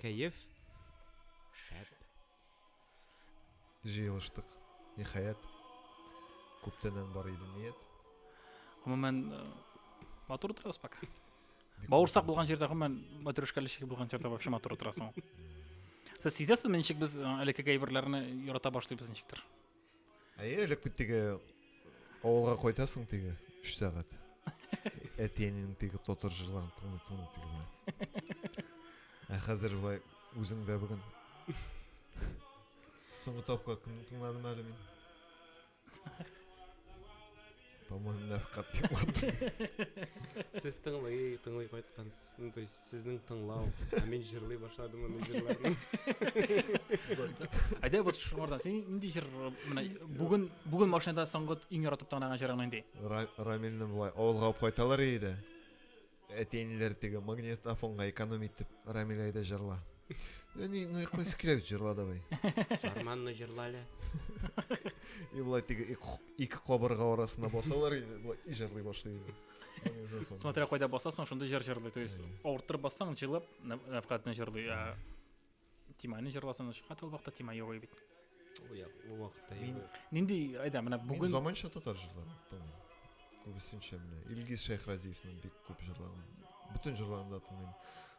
Кәеф шәп. Җыелыштык, ниһаять. Күптәннән бар иде ният. Гомумән, э, матур утырабыз пока. Бауырсак булган җирдә, гомумән, матрешкәле чәй булган җирдә вообще матур утырасың. Сез сизәсезме, ничек без э, элеккеге әйберләрне ярата башлыйбыз ничектер? Әйе, элек бит теге авылга кайтасың теге 3 сәгать. Әтиеңнең теге татар җырларын тыңлый тыңлый теге. Ә хәзер болай үзеңдә бүген. Соңгы тапкыр кемне тыңладым әле мин? По-моему, нәфкат Сез тыңлый, тыңлый кайткансыз. Ну, то есть сезнең тыңлау. Ә мин җырлый башладым, мин җырларны. Әйдә вот шуңардан син нинди җыр менә бүген бүген машинада соңгы иң яратып тыңлаган җырың нинди? Рамилне болай авылга алып кайталар иде. Әти-әниләр теге магнитофонга эконом итеп Рамилә әйдә җырла. Әни, ну якой склеп җырла давай. Сарманны җырла әле. И болай теге ике кабырга арасына басалар иде, болай и җырлый башлый иде. Смотря кайда басасың, шундый җыр җырлый. То есть, авырттырып бассаң, җырлап, навкатны җырлый. Тиманы җырласаң шуңа ул вакытта тема юк бит. Ул як, ул вакытта мин нинди айда менә бүген мин заманча татар җырларын тыңлыйм. Күбесенчә менә Илгиз Шәйхразиевның бик күп җырларын, бөтен җырларын да тыңлыйм.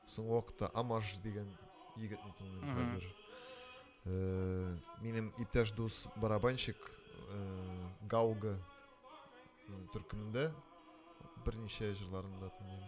Соңгы вакытта Амаш дигән егетне тыңлыйм хәзер. Э, минем иптәш дус барабанщик э, Гауга төркемендә берничә җырларын да тыңлыйм.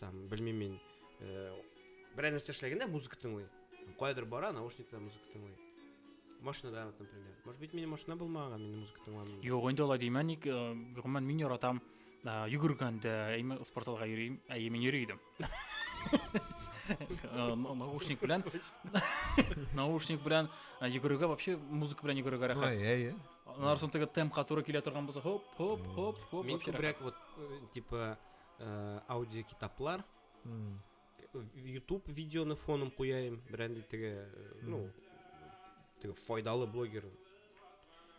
там белмим мин э, берәр нәрсә эшләгәндә музыка тыңлый каядыр бара наушникта музыка тыңлый машинада например может быть мин машина булмаган мин музыка тыңламыйм юк инде алай димә ник э, гомумән мин яратам э, йөгергәндә әйме спорталга йөрим әйе мин йөри идем наушник белән наушник белән йөгерергә вообще музыка белән йөгерергә рәхәт әйе аннан соң теге темпка туры килә торган булса хоп хоп хоп хоп мин күбрәк вот типа Э, аудиокитаплар ютуб видеоны фоным куяйм берәндәй теге э, ну теге файдалы блогер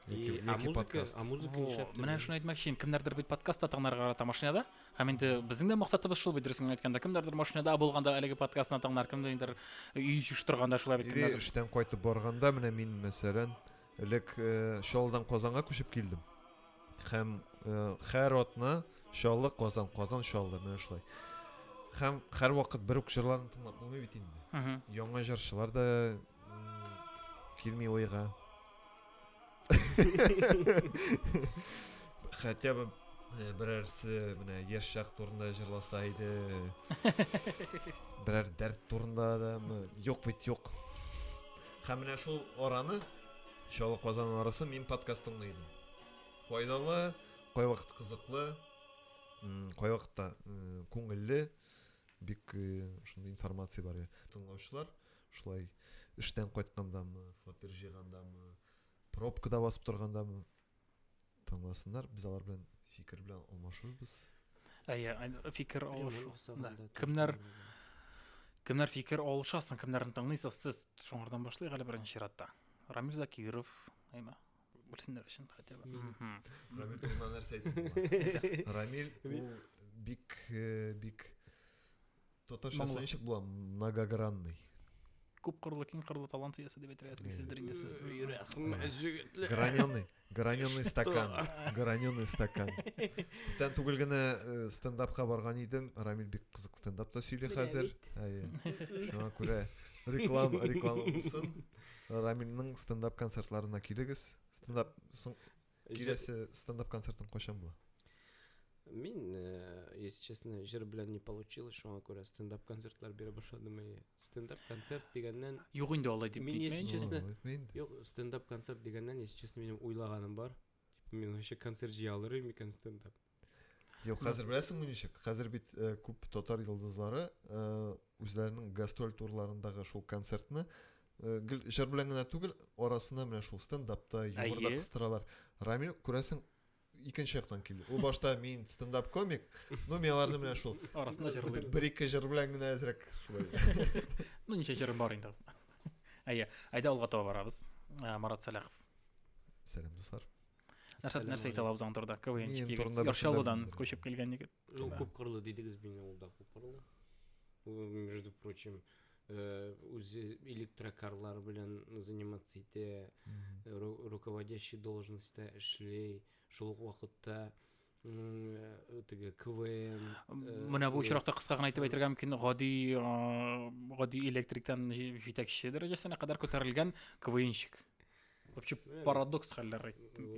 а музыка а музыка нишләп менә шуны әйтмәкче кемнәрдер бит подкаст тыңларга карата машинада һәм инде безнең дә максатыбыз шул бит дөресен әйткәндә кемнәрдер машинада булганда әлеге подкастны тыңлар кемдер өй җыештырганда шулай бит кемнәр эштән кайтып барганда менә мин мәсәлән Элек Чаллыдан Казанга күчеп килдем. Һәм һәр атна Чаллы, Казан, Казан, Чаллы, менә шулай. Һәм һәр вакыт бер үк җырларны тыңлап булмый бит инде. Яңа җырчылар да килми ойга. Хотя бы менә берәрсе менә яшь чак турында җырласа иде. Берәр дәрт турында да юк бит юк. Һәм менә шул араны, Чаллы Казан арасы мин подкаст тыңлый идем. Файдалы, кайвакыт кызыклы, кайвакытта күңелле, бик шундый информация бар. Тыңлаучылар шулай эштән кайткандамы, фатир җыйгандамы, пробкада басып торгандамы, Тыңласыннар, без алар белән фикер белән алмашырбыз. Әйе, фикер алышу. Да. Кемнәр кемнәр фикер алышасын, кемнәрне тыңлыйсыз сез? Шуңардан башлыйк әле беренче чиратта. Рамил Закиров, әйме? Белсеннәр өчен хотя бы. Рамил бер нәрсә әйтте. Рамил бик э, бик Татарча Моңлы. ничек була? Многогранный. Күп кырлы, киң кырлы талант иясе дип әйтергә телисездер инде сез. Граненый, граненый стакан, граненый стакан. Күптән түгел генә э, стендапка барган идем. Рамил бик кызык стендапта сөйли хәзер. Әйе. Шуңа күрә реклама, реклама булсын. Рамилнең стендап концертларына килегез. Стендап соң Киләсе стендап концертың кайчан була? Мин, э, если честно, җыр белән не получилось, шуңа күрә стендап концертлар бирә башладым. И стендап концерт дигәннән Юк инде алай дип Мин әйтмә если инде. честно- Ул әйтмә инде. Юк, стендап концерт дигәннән, если честно, минем уйлаганым бар. Типа, мин вообще концерт җыя алыр идем микән стендап? Юк, хәзер беләсеңме ничек? Хәзер бит э, күп татар йолдызлары э, үзләренең гастроль турларындагы шул концертны э, гел җыр белән генә түгел, арасына менә шул стендапта, юморда кыстыралар. Рамил, күрәсең, икенче яктан килде. Ул башта мин стендап комик, ну мин аларны менә шул арасында җырлыйм. Бер-ике җыр белән генә әзрәк шулай. Ну ничә җырым бар инде. Әйе, әйдә алга таба барабыз. Марат Сәләхов. Сәлам, дуслар. нәрсә нәрсә әйтә алабыз аның турында квнчик егет яршалыдан күчеп килгән егет ну күпкырлы дидегез мин ул да күпкырлы между прочим э, үзе электрокарлар белән заниматься итә руководящий должностьта эшли шул ук вакытта теге квн менә бу очракта кыска гына әйтеп әйтергә мөмкин гади гади электриктан җитәкче дәрәҗәсенә кадәр күтәрелгән квнщик вообще парадокс хәлләр әйттем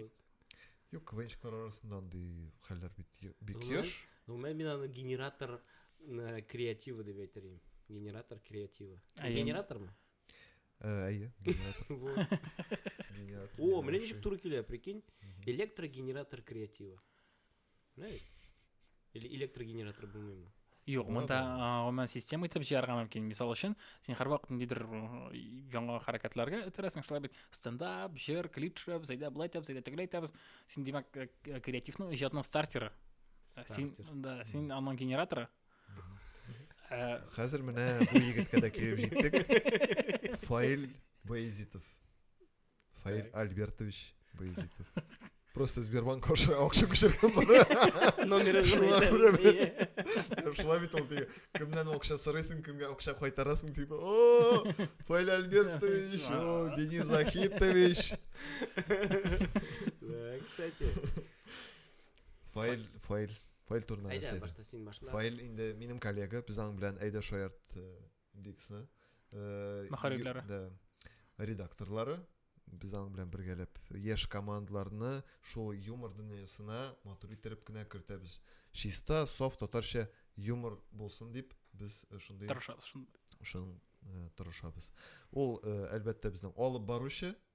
юк квнщиклар арасында андый хәлләр бит бик еш гомумән мин аны генератор креативы дип әйтер идем генератор креативы генератормы Әйе, генератор. О, менә ничек туры килә, прикинь. Электрогенератор креативы. Менә Или электрогенератор булмыймы? Юк, монда гомумән система итеп җыярга мөмкин. Мисал өчен, син һәрвакыт ниндидер яңа хәрәкәтләргә этерәсең, шулай бит. Стендап, җыр, клип төшереп, зәйдә былай итәбез, зәйдә тегеләй итәбез. Син димәк креативның иҗатның стартеры. Син да, син аның генераторы. Ә, Хәзер менә бу егеткә дә килеп җиттек. Фаил Баязитов. Фаил Альбертович Баязитов. Просто Сбербанк аша акча күчергән бара. Номеры Шуңа күрә мен- Шулай бит ул теге кемнән акча сорыйсың, кемгә акча кайтарасың дип. О, Фаил Альбертович, о, Денис Захитович. Да, кстати. Фаил, Фаил. Фаил турында нәрсә әйдә? башта син башла. Фаил инде минем коллега, без аның белән әйдә шаярт э, биксны. Э, Мөхәррирләре. Да. Редакторлары без аның белән бергәләп яшь командаларны шул юмор дөньясына матур иттереп кенә кертәбез. Чиста, саф татарча юмор булсын дип без э, шундый Тырышабыз шундый. Шун э, тырышабыз. Ул э, әлбәттә безнең алып баручы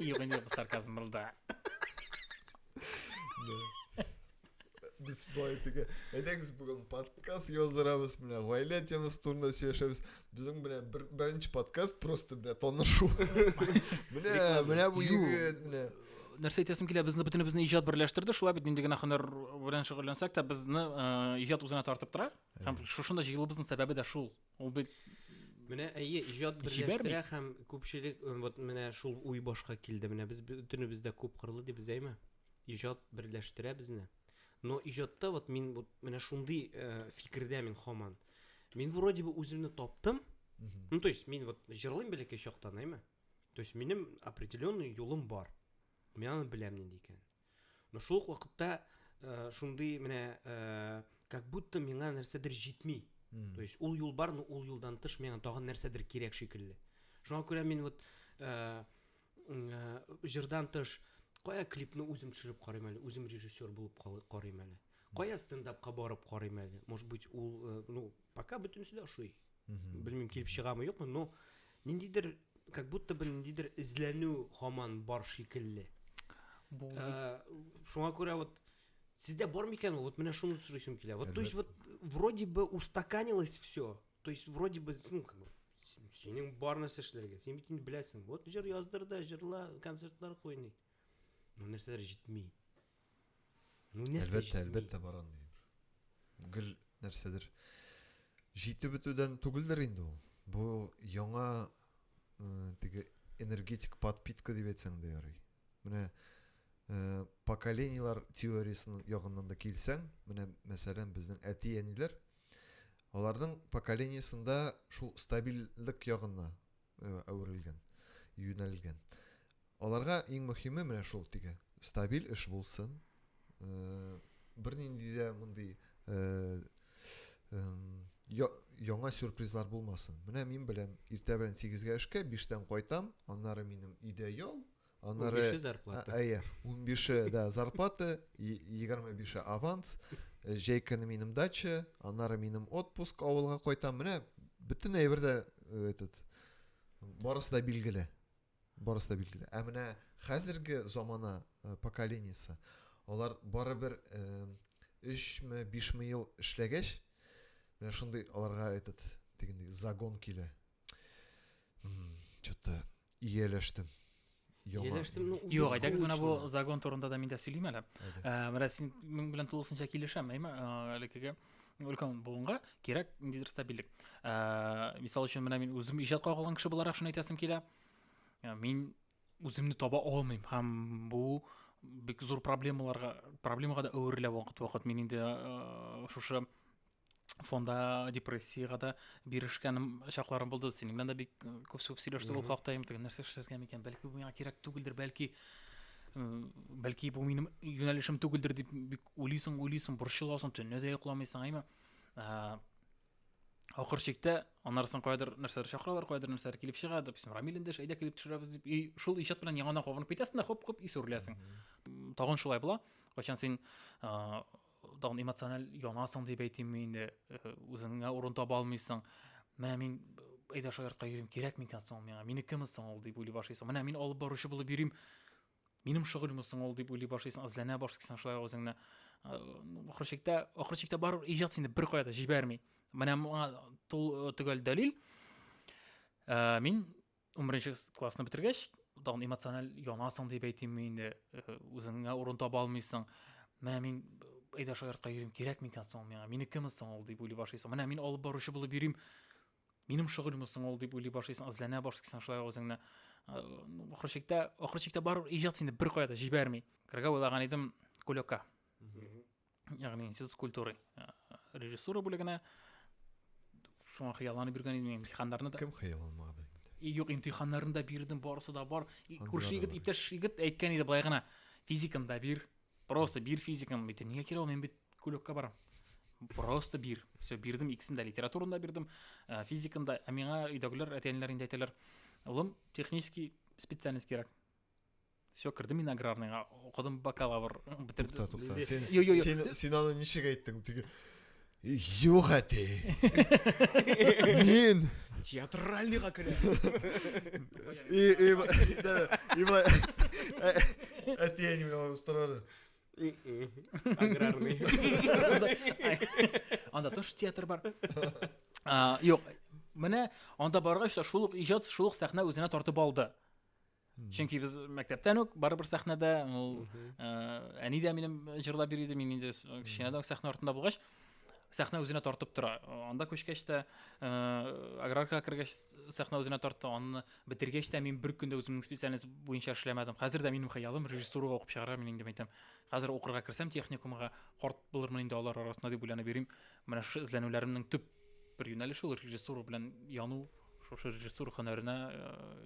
E eu vendia para o sarcasmo maldade. Biz politiga. Әйдәгез бүгін подкаст яздырамыз менә гаилә темасы турында сөйләшәбез. Безнең менә бер, беренче подкаст просто менә танышу. менә менә бу егет менә. Нәрсә әйтәсем килә, безне бөтенебезне иҗат берләштерде. Шулай бит нинди генә һөнәр белән шөгыльләнсәк тә, безне иҗат үзенә тартып тора. Һәм шушында җыелуыбызның сәбәбе дә шул. Ул бит Менә әйе, иҗат берләштерә һәм күпчелек э, вот менә шул уй башка килде. Менә без бөтенебез дә күп кырлы дибез, әйме? Иҗат берләштерә безне. Но иҗатта вот мин вот менә шундый э, фикердә мин хаман. Мин вроде бы үземне таптым. Ну, то есть, мин вот җырлыйм бәләкәй чактан, әйме? То есть, минем определенный юлым бар. Мин аны беләм нинди икән. Но шул ук вакытта э, шундый менә э, как будто миңа нәрсәдер җитми. Mm. То есть ул юл бар, но ул юлдан тыш миңа тагын нәрсәдер кирәк шикелле. Шуңа күрә мин вот э, э, җырдан тыш кая клипны үзем төшереп карыйм әле, үзем режиссер булып карыйм әле. Кая стендапка барып карыйм әле. Может быть, ул э, ну, Пока бөтенесе дә ошый. Белмим, килеп чыгамы, юкмы, но ниндидер как будто бы ниндидер эзләнү хаман бар шикелле. Бу э, шуңа күрә вот Сездә бар микән ул? Вот менә шуны сорыйсым килә. Вот, то есть вот вроде бы устаканилось все. То есть вроде бы, ну, как бы, синең бар нәрсә эшләргә. Син бит инде беләсең. Вот җыр яздыр да, җырла, концертлар куй ни. Ну, нәрсәләр җитми. Ну, нәрсә Әлбәттә, җитми? әлбәттә бар андый бер. Гел нәрсәдер җитеп бетүдән түгелдер инде ул. Бу яңа э, теге энергетик подпитка дип әйтсәң дә ярый. Менә э, поколениелар теориясенең ягыннан да килсәң, менә мәсәлән безнең әти-әниләр аларның поколениясендә шул стабильлек ягына әверелгән, юнәлгән. Аларга иң мөхиме менә шул теге стабиль эш булсын. Бернинди дә мондый яңа сюрпризлар булмасын. Менә мин беләм, иртә белән 8-гә эшкә, 5-тән кайтам, аннары минем өйдә ял, Аннары 15 зарплата. Әйе, 15 да зарплата, 25 аванс, э, җәй көне минем дача, аннары минем отпуск авылга кайтам. Менә бөтен әйбер дә э, этот барысы да билгеле. Барысы да билгеле. Ә менә хәзерге замана э, поколениесе алар барыбер 3 ме 5 ме ел эшләгәч, менә шундый аларга этот дигәндәй загон килә. Что-то ияләштем. Ияләштем. Ну, Юк, әйдәгез менә бу загон турында да мин дә сөйлим әле. Э, менә син минем белән тулысынча килешәм, әйме, э, элекеге өлкән буынга кирәк ниндидер стабильлек. Э, мисал өчен менә мин үзем иҗат кагылган кеше буларак шуны әйтәсем килә. Мин үземне таба алмыйм һәм бу бик зур проблемаларга проблемага да әверелә вакыт вакыт мин инде э, шушы фонда депрессияга да бирешкәнем чакларым булды синең белән дә бик э, күп сүп сөйләштек ул хакта инде нәрсә эшләргә микән бәлки бу миңа кирәк түгелдер бәлки э, бәлки бу минем юнәлешем түгелдер дип бик уйлыйсың уйлыйсың борчыласың төнлә дә йокламыйсың әйме э, ахыр чиктә анарсын каядыр нәрсәләр чакыралар каядыр нәрсәләр килеп чыга дип син рамил эндәш әйдә килеп төшерәбез дип и шул иҗат белән яңадан кабынып китәсең дә хоп хоп ис үрләсең тагын шулай була кайчан син тагын эмоциональ янасың дип әйтимме инде э, үзеңә урын таба алмыйсың менә мин әйдә шаяртка йөрим кирәк микән соң ул миңа минекеме соң ул дип уйлый башлыйсың менә мин алып баручы булып йөрим минем шөгыльме соң ул дип уйлый башлыйсың эзләнә башлыйсың шулай үзеңне э, ахыр чиктә ахыр чиктә барыбер иҗат сине беркая да җибәрми менә моңа төгәл дәлил ә, мин он беренче классны бетергәч тагын эмоциональ янасың дип әйтимме инде үзеңә урын таба алмыйсың менә мин әйдә шаяртка йөрим кирәк микән соң миңа минекеме соң ул дип уйлый башлыйсың менә мин алып баручы булып йөрим минем шөгыльме соң ул дип уйлый башлыйсың эзләнә башлыйсың шулай үзеңне ахыр чиктә ахыр чиктә бар иҗат сине беркая да җибәрми керергә уйлаган идем кулёкка ягъни институт культуры э, режиссура бүлегенә шуңа хыялланып йөргән идем имтиханнарны да кем хыялланмады юк имтиханнарын да бирдем барысы да бар күрше егет иптәш егет әйткән иде былай гына физиканы да бир просто бир физиканы әйтәм нигә кирәк ул мин бит кулөккә барам просто бир все бирдем икесен дә литератураны да бирдем э, физиканы да ә миңа өйдәгеләр әти әниләр инде әйтәләр улым технический специальность кирәк все кердем мин аграрныйга укыдым бакалавр бетердем сен сен аны ничек әйттең теге юк әти мин театральныйга керәм әти әни белән торады аграрный анда тоже театр бар юк менә анда баргач та шул ук иҗат шул ук сәхнә үзенә тартып алды чөнки без мәктәптән үк барыбер сәхнәдә ул әни дә минем җырлап йөри иде мин инде кечкенәдән үк сәхнә артында булгач сәхнә үзенә тартып тора анда күчкәч тә аграрка кергәч сәхнә үзенә тартты аны бетергәч тә мин бер көндә үземнең специальность буенча эшләмәдем хәзер дә минем хыялым режиссурага укып чыгарга мин инде әйтәм хәзер укырга керсәм техникумга карт булырмын инде алар арасында дип уйланып йөрим менә шушы эзләнүләремнең төп бер юнәлеше ул режиссура белән яну шушы режиссура һөнәренә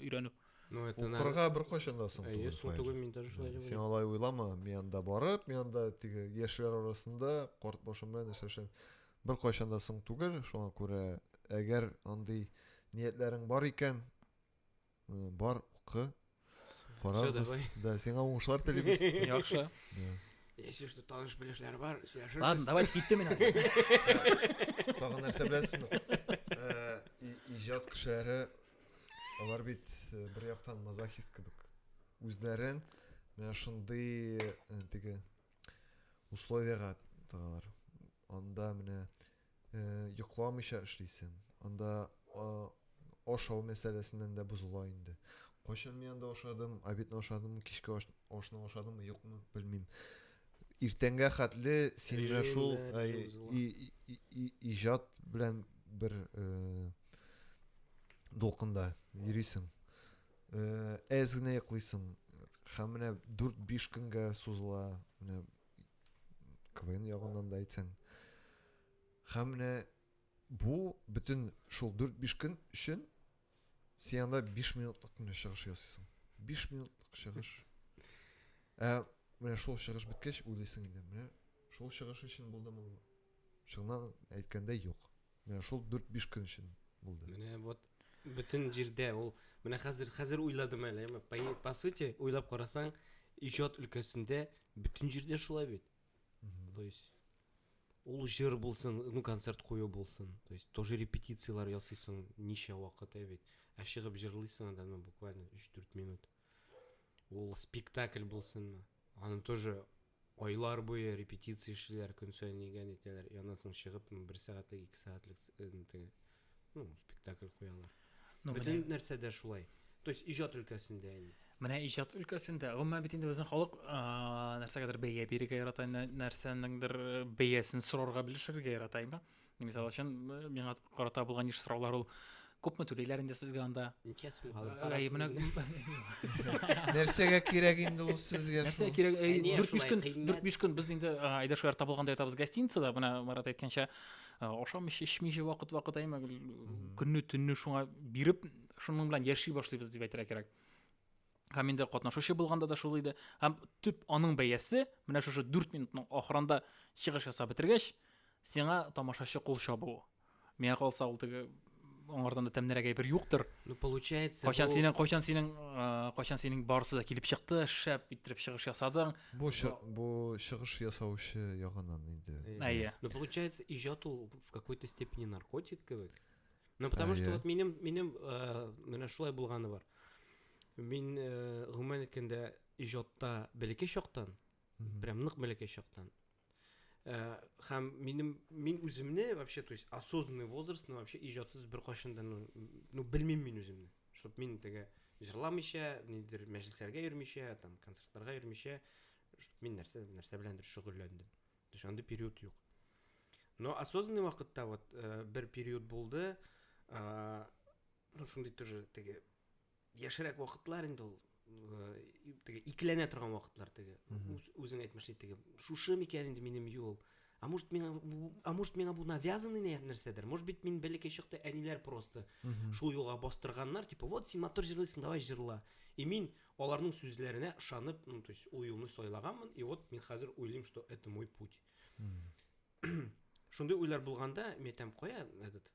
өйрәнү Ну, это Ул кырга беркайчан да соң түгел. Соң түгел, мин даже шулай Син алай уйлама, мин анда барып, мин анда теге яшьләр арасында карт башым белән эшләшәм. Беркайчан да соң түгел, шуңа күрә әгәр андый ниятләрең бар икән, э, бар укы. Карабыз. Да, сиңа уңышлар телибез. Яхшы. Если что таныш белешләр бар, сөйләшербез. Ладно, давайте киттем мин хәзер. Тагын нәрсә беләсезме? Э, иҗат кешеләре Алар бит э, бер яктан мазохист кебек. Үзләрен менә шундый э, теге условиягә тыгалар. Анда менә э, йокламыйча эшлисең. Анда ашау мәсьәләсеннән дә бозыла инде. Кайчан мин анда ашадым, обедны ашадым, кичке ашны ашадым, юкмы, белмим. Иртәнгә хәтле син шул иҗат белән бер э, дулкында йөрисең э, әз генә йоклыйсың һәм менә дүрт биш көнгә сузыла менә квн ягыннан да әйтсәң һәм менә бу бөтен шул дүрт биш көн өчен син анда биш минутлык кенә чыгыш ясыйсың биш минутлык чыгыш ә менә шул чыгыш беткәч уйлыйсың инде менә шул чыгыш өчен булдымы Чыннан әйткәндә юк. Менә шул 4-5 көн өчен булды. Менә вот бөтен җирдә ул менә хәзер хәзер уйладым әле. По сути, уйлап карасаң, иҗат өлкәсендә бөтен җирдә шулай бит. То есть ул җыр булсын, ну концерт кую булсын. То есть тоже репетицияләр ясыйсың ничә вакыт ә бит. Ә чыгып җырлыйсың анда ну буквально 3-4 минут. Ул спектакль булсынмы? Аны тоже Айлар буе репетиция эшлиләр, көн саен нигә нитәләр, и аннан соң чыгып бер сәгатьлек, ике сәгатьлек теге, ну, спектакль куялар. Ну, Бөтен менә... нәрсә дә шулай. То есть иҗат өлкәсендә инде. Менә иҗат өлкәсендә, гомумән бит инде безнең халык нәрсәгәдер бәя бирергә ярата, нәрсәнеңдер бәясен сорарга, белешергә ярата, әйме? мисал өчен миңа карата булган еш сораулар ул күпме түлиләр инде сезгә анда ничә сум нәрсәгә кирәк инде ул сезгә нәрсәгә кирәк дүрт биш көн дүрт биш көн без инде айдаш ярта булганда ятабыз гостиницада менә марат әйткәнчә ашамыйча эчмичә вакыт вакыт әйме көнне төнне шуңа биреп шуның белән яши башлыйбыз дип әйтергә кирәк һәм инде катнашучы булганда да шул иде һәм төп аның бәясе менә шушы дүрт минутның ахырында чыгыш ясап бетергәч сиңа тамашачы кул чабуы миңа калса ул теге аңардан да тәмнерәк әйбер юктыр ну получается кайчан синең кайчан синең кайчан синең барысы да килеп чыкты шәп иттереп чыгыш ясадың бу бу чыгыш ясаучы ягыннан инде әйе ну получается иҗат ул в какой-то степени наркотик кебек Ну, потому что вот минем, минем, э, менә шулай булганы бар. Мин, э, гомумән әйткәндә, иҗатта бәләкәй чактан, прям нык бәләкәй чактан. Э, һәм минем мин үземне вообще, то есть осознанный возраст, ну вообще иҗатсыз бер кашын да, ну, ну белмим мин үземне. Чтоб мин теге җырламыйча, нидер мәҗлесләргә йөрмичә, там концертларга йөрмичә, чтоб мин нәрсә нәрсә беләндер шөгыльләндем. То есть андый период юк. Но осознанный вакытта вот э, бер период булды, э, ну шундый тоже теге яшерәк вакытлар инде ул э, теге икеләнә торган вакытлар теге үзең әйтмешли теге шушы микән инде минем юл а может миңа а может миңа бу навязанный нәрсәдер может быть мин бәләкәй чакта әниләр просто шул юлга бастырганнар типа вот син матур җырлыйсың давай җырла и мин Аларның сүзләренә ышанып, ну, то есть, ул юлны сайлаганмын, и вот мин хәзер уйлыйм, что это мой путь. Шундый уйлар булганда, мен әйтәм, кая этот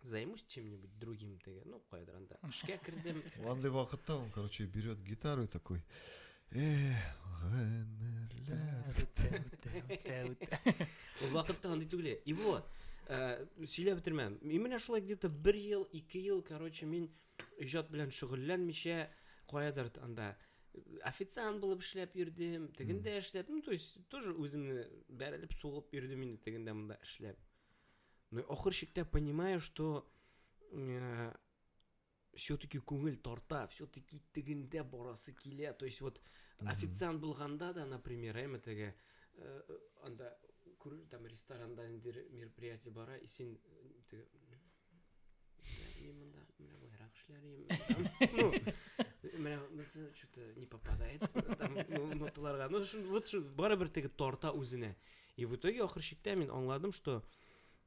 займусь чем-нибудь другим теге, ну, каядыр анда. Эшкә кердем. Андый вакытта он, короче, берет гитару и такой, Эх, гомерләр. Үтә, үтә, үтә, үтә. Ул вакытта андый түгел. И вот, э, сөйләп бетермәм. Мин менә шулай где-то бер ел, ике ел, короче, мин иҗат белән шөгыльләнмичә каядыр анда официант булып эшләп йөрдем тегендә эшләп ну то есть тоже үземне бәрелеп сугып йөрдем инде тегендә монда эшләп но ахыр чиктә понимаю что э, все-таки күңел тарта, все-таки тегендә барасы килә. То есть вот официант булганда да, например, әйме теге э, анда күр там ресторанда инде мероприятие бара, и син э, теге Менә монысы что-то не попадает. Там ноталарга. Ну, вот что, барыбер теге тарта үзенә. И в итоге ахыр чиктә мин аңладым, что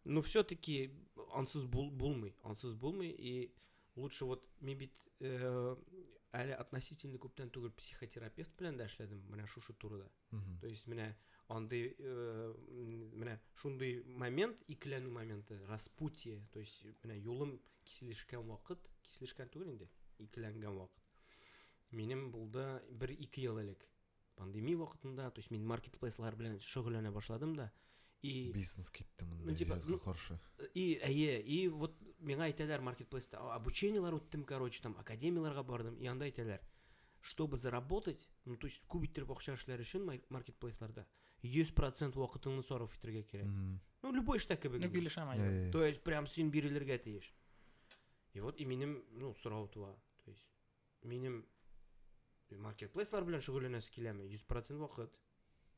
ну все-таки ансыз бул, булмый, ансыз булмый и лучше вот мин бит э, әле относительно күптән түгел психотерапевт белән дә эшләдем, менә шушы турыда. То есть менә андый э, менә шундый момент, икеләнү моменты, распутие, то есть менә юлым киселешкән вакыт, киселешкән түгел инде, икеләнгән вакыт. Минем булды бер ике ел элек. Пандемия вакытында, то есть мин маркетплейслар белән шөгыльләнә башладым да, и бизнес китте монда ну, типа, ну, каршы и әйе и вот миңа әйтәләр маркетплейста обучениелар үттем короче там академияларга бардым и анда әйтәләр Чтобы заработать, ну то есть күп иттереп акча эшләр өчен маркетплейсларда 100% вакытыңны сарыф итергә кирәк. Ну любой эштә кебек. Ну килешәм әле. То есть прям син бирелергә тиеш. И вот и минем, ну сорау туа. То есть минем маркетплейслар белән шөгыльләнәсе киләме? 100% вакыт.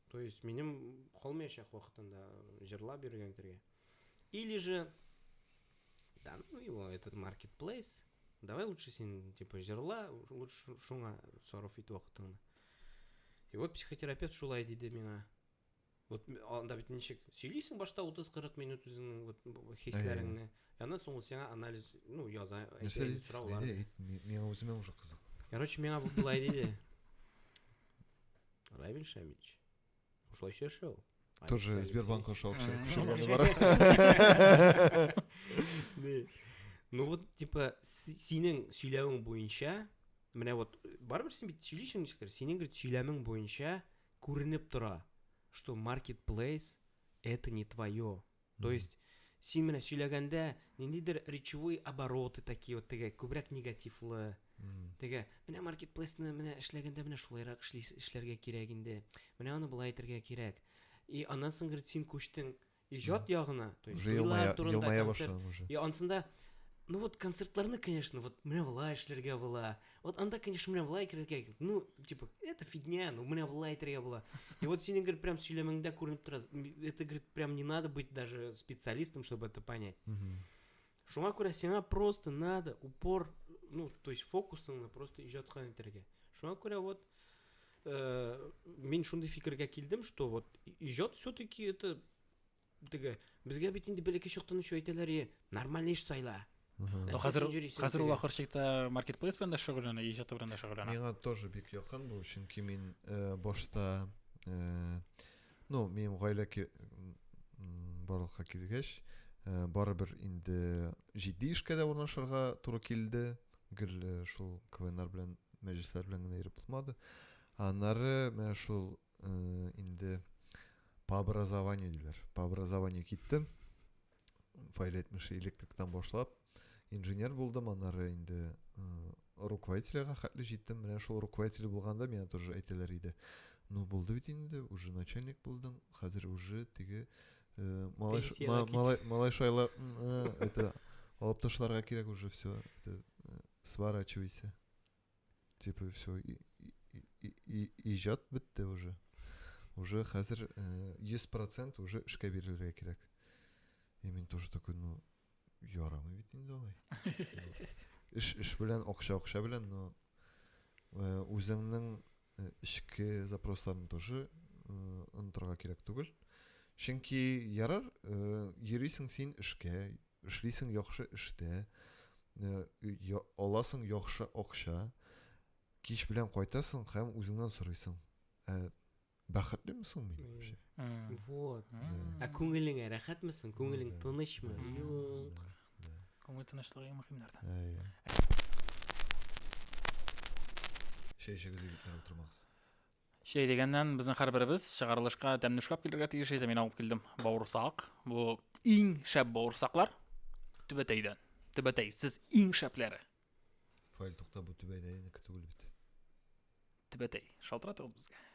То есть минем калмаячак вакытында җырлап йөргән кергә. Или же да, ну его этот маркетплейс. Давай лучше син типа җырла, лучше шуңа сарыф ит вакытыңны. И вот психотерапевт шулай диде миңа. Вот анда бит ничек сөйлисең башта 30-40 минут үзеңнең вот хисләреңне. Яна соң сиңа анализ, ну, яза, әйтәләр, сораулар. Миңа үземә уже кызык. Короче, миңа бу булай диде. Равиль Шамильевич, шулайша яшәү. Тоже Сбербанк аша акча күчергәне бар. Ну вот, типа, синең сөйләвең буенча, менә вот, барыбер син бит сөйлисең ничектер, синең говорит, сөйләмең буенча күренеп тора, что marketplace это не твое. То есть син менә сөйләгәндә ниндидер речевой обороты такие вот теге күбрәк негативлы теге менә маркетплейсны менә эшләгәндә менә шулайрак эшли эшләргә кирәк инде менә аны болай итәргә кирәк и аннан соң говорит син күчтең иҗат ягына то есть елмая, елмая башладың уже и анысында ну вот концертларны конечно вот менә болай эшләргә була Вот анда, конечно, менә былай әйтергә кирәк. Ну, типа, это фигня, ну менә былай әйтергә була. И вот синең гөр прям сөйләмеңдә күренеп тора. Это гөр прям не надо быть даже специалистом, чтобы это понять. Шуңа күрә сиңа просто надо упор, ну, то есть фокусыңны просто иҗатка итәргә. Шуңа күрә вот э, мин шундый фикергә килдем, что вот иҗат все-таки это Теге, безгә бит инде бәләкәй чактан ук әйтәләр, е, нормаль эш сайла. Ну, хәзер, хәзер ул ахыр чикта маркетплейс белән дә шөгыльләнә, иҗат белән дә шөгыльләнә. Миңа тоже бик якын бу, чөнки мин э, башта э, ну, минем гаилә барлыкка килгәч, э, барыбер инде җитди эшкә дә урнашырга туры килде. Гел э, шул КВНнар белән, мәҗлесләр белән генә йөреп булмады. Аннары менә шул э, инде по образованию диләр по образованию киттем файл әйтмеше электриктан башлап инженер булдым аннары инде э, руководительга хәтле җиттем менә шул руководитель булганда миңа тоже әйтәләр иде ну булды бит инде уже начальник булдың хәзер уже теге э, малай шайлар э, это алып ташларга кирәк уже все это э, сворачивайся Типа все, иҗат бетте уже. Уже хәзер 100% э, уже эшкә бирелергә кирәк. И мин тоже такой, ну, ярамый бит инде алай. Эш эш белән, акча акча белән, но э, үзеңнең э, эчке запросларны тоже онытырга кирәк түгел. Чөнки ярар, йөрисең син эшкә, Эшлисең яхшы эштә, аласың яхшы акча, кич белән кайтасың һәм үзеңнән сорыйсың. Ә бәхетлеме соң мин вообще? Вот. Ә күңелеңә рәхәтме соң? Күңелең тынычмы? Юк. Күңел тынычлыгы иң мөһим нәрсә. Чәй эчегез, егетләр, утырмагыз. Şey дигәннән, безнең һәрберебез чыгарылышка тәмне эшләп килергә тиеш иде. Мин алып килдем бавырсак. Бу иң шәп бавырсаклар. Түбәтәйдән. Түбәтәй, сез иң шәпләре. Фаил тукта бу түбәтәйнеке түгел бит. Түбәтәй, шалтыратыгыз безгә.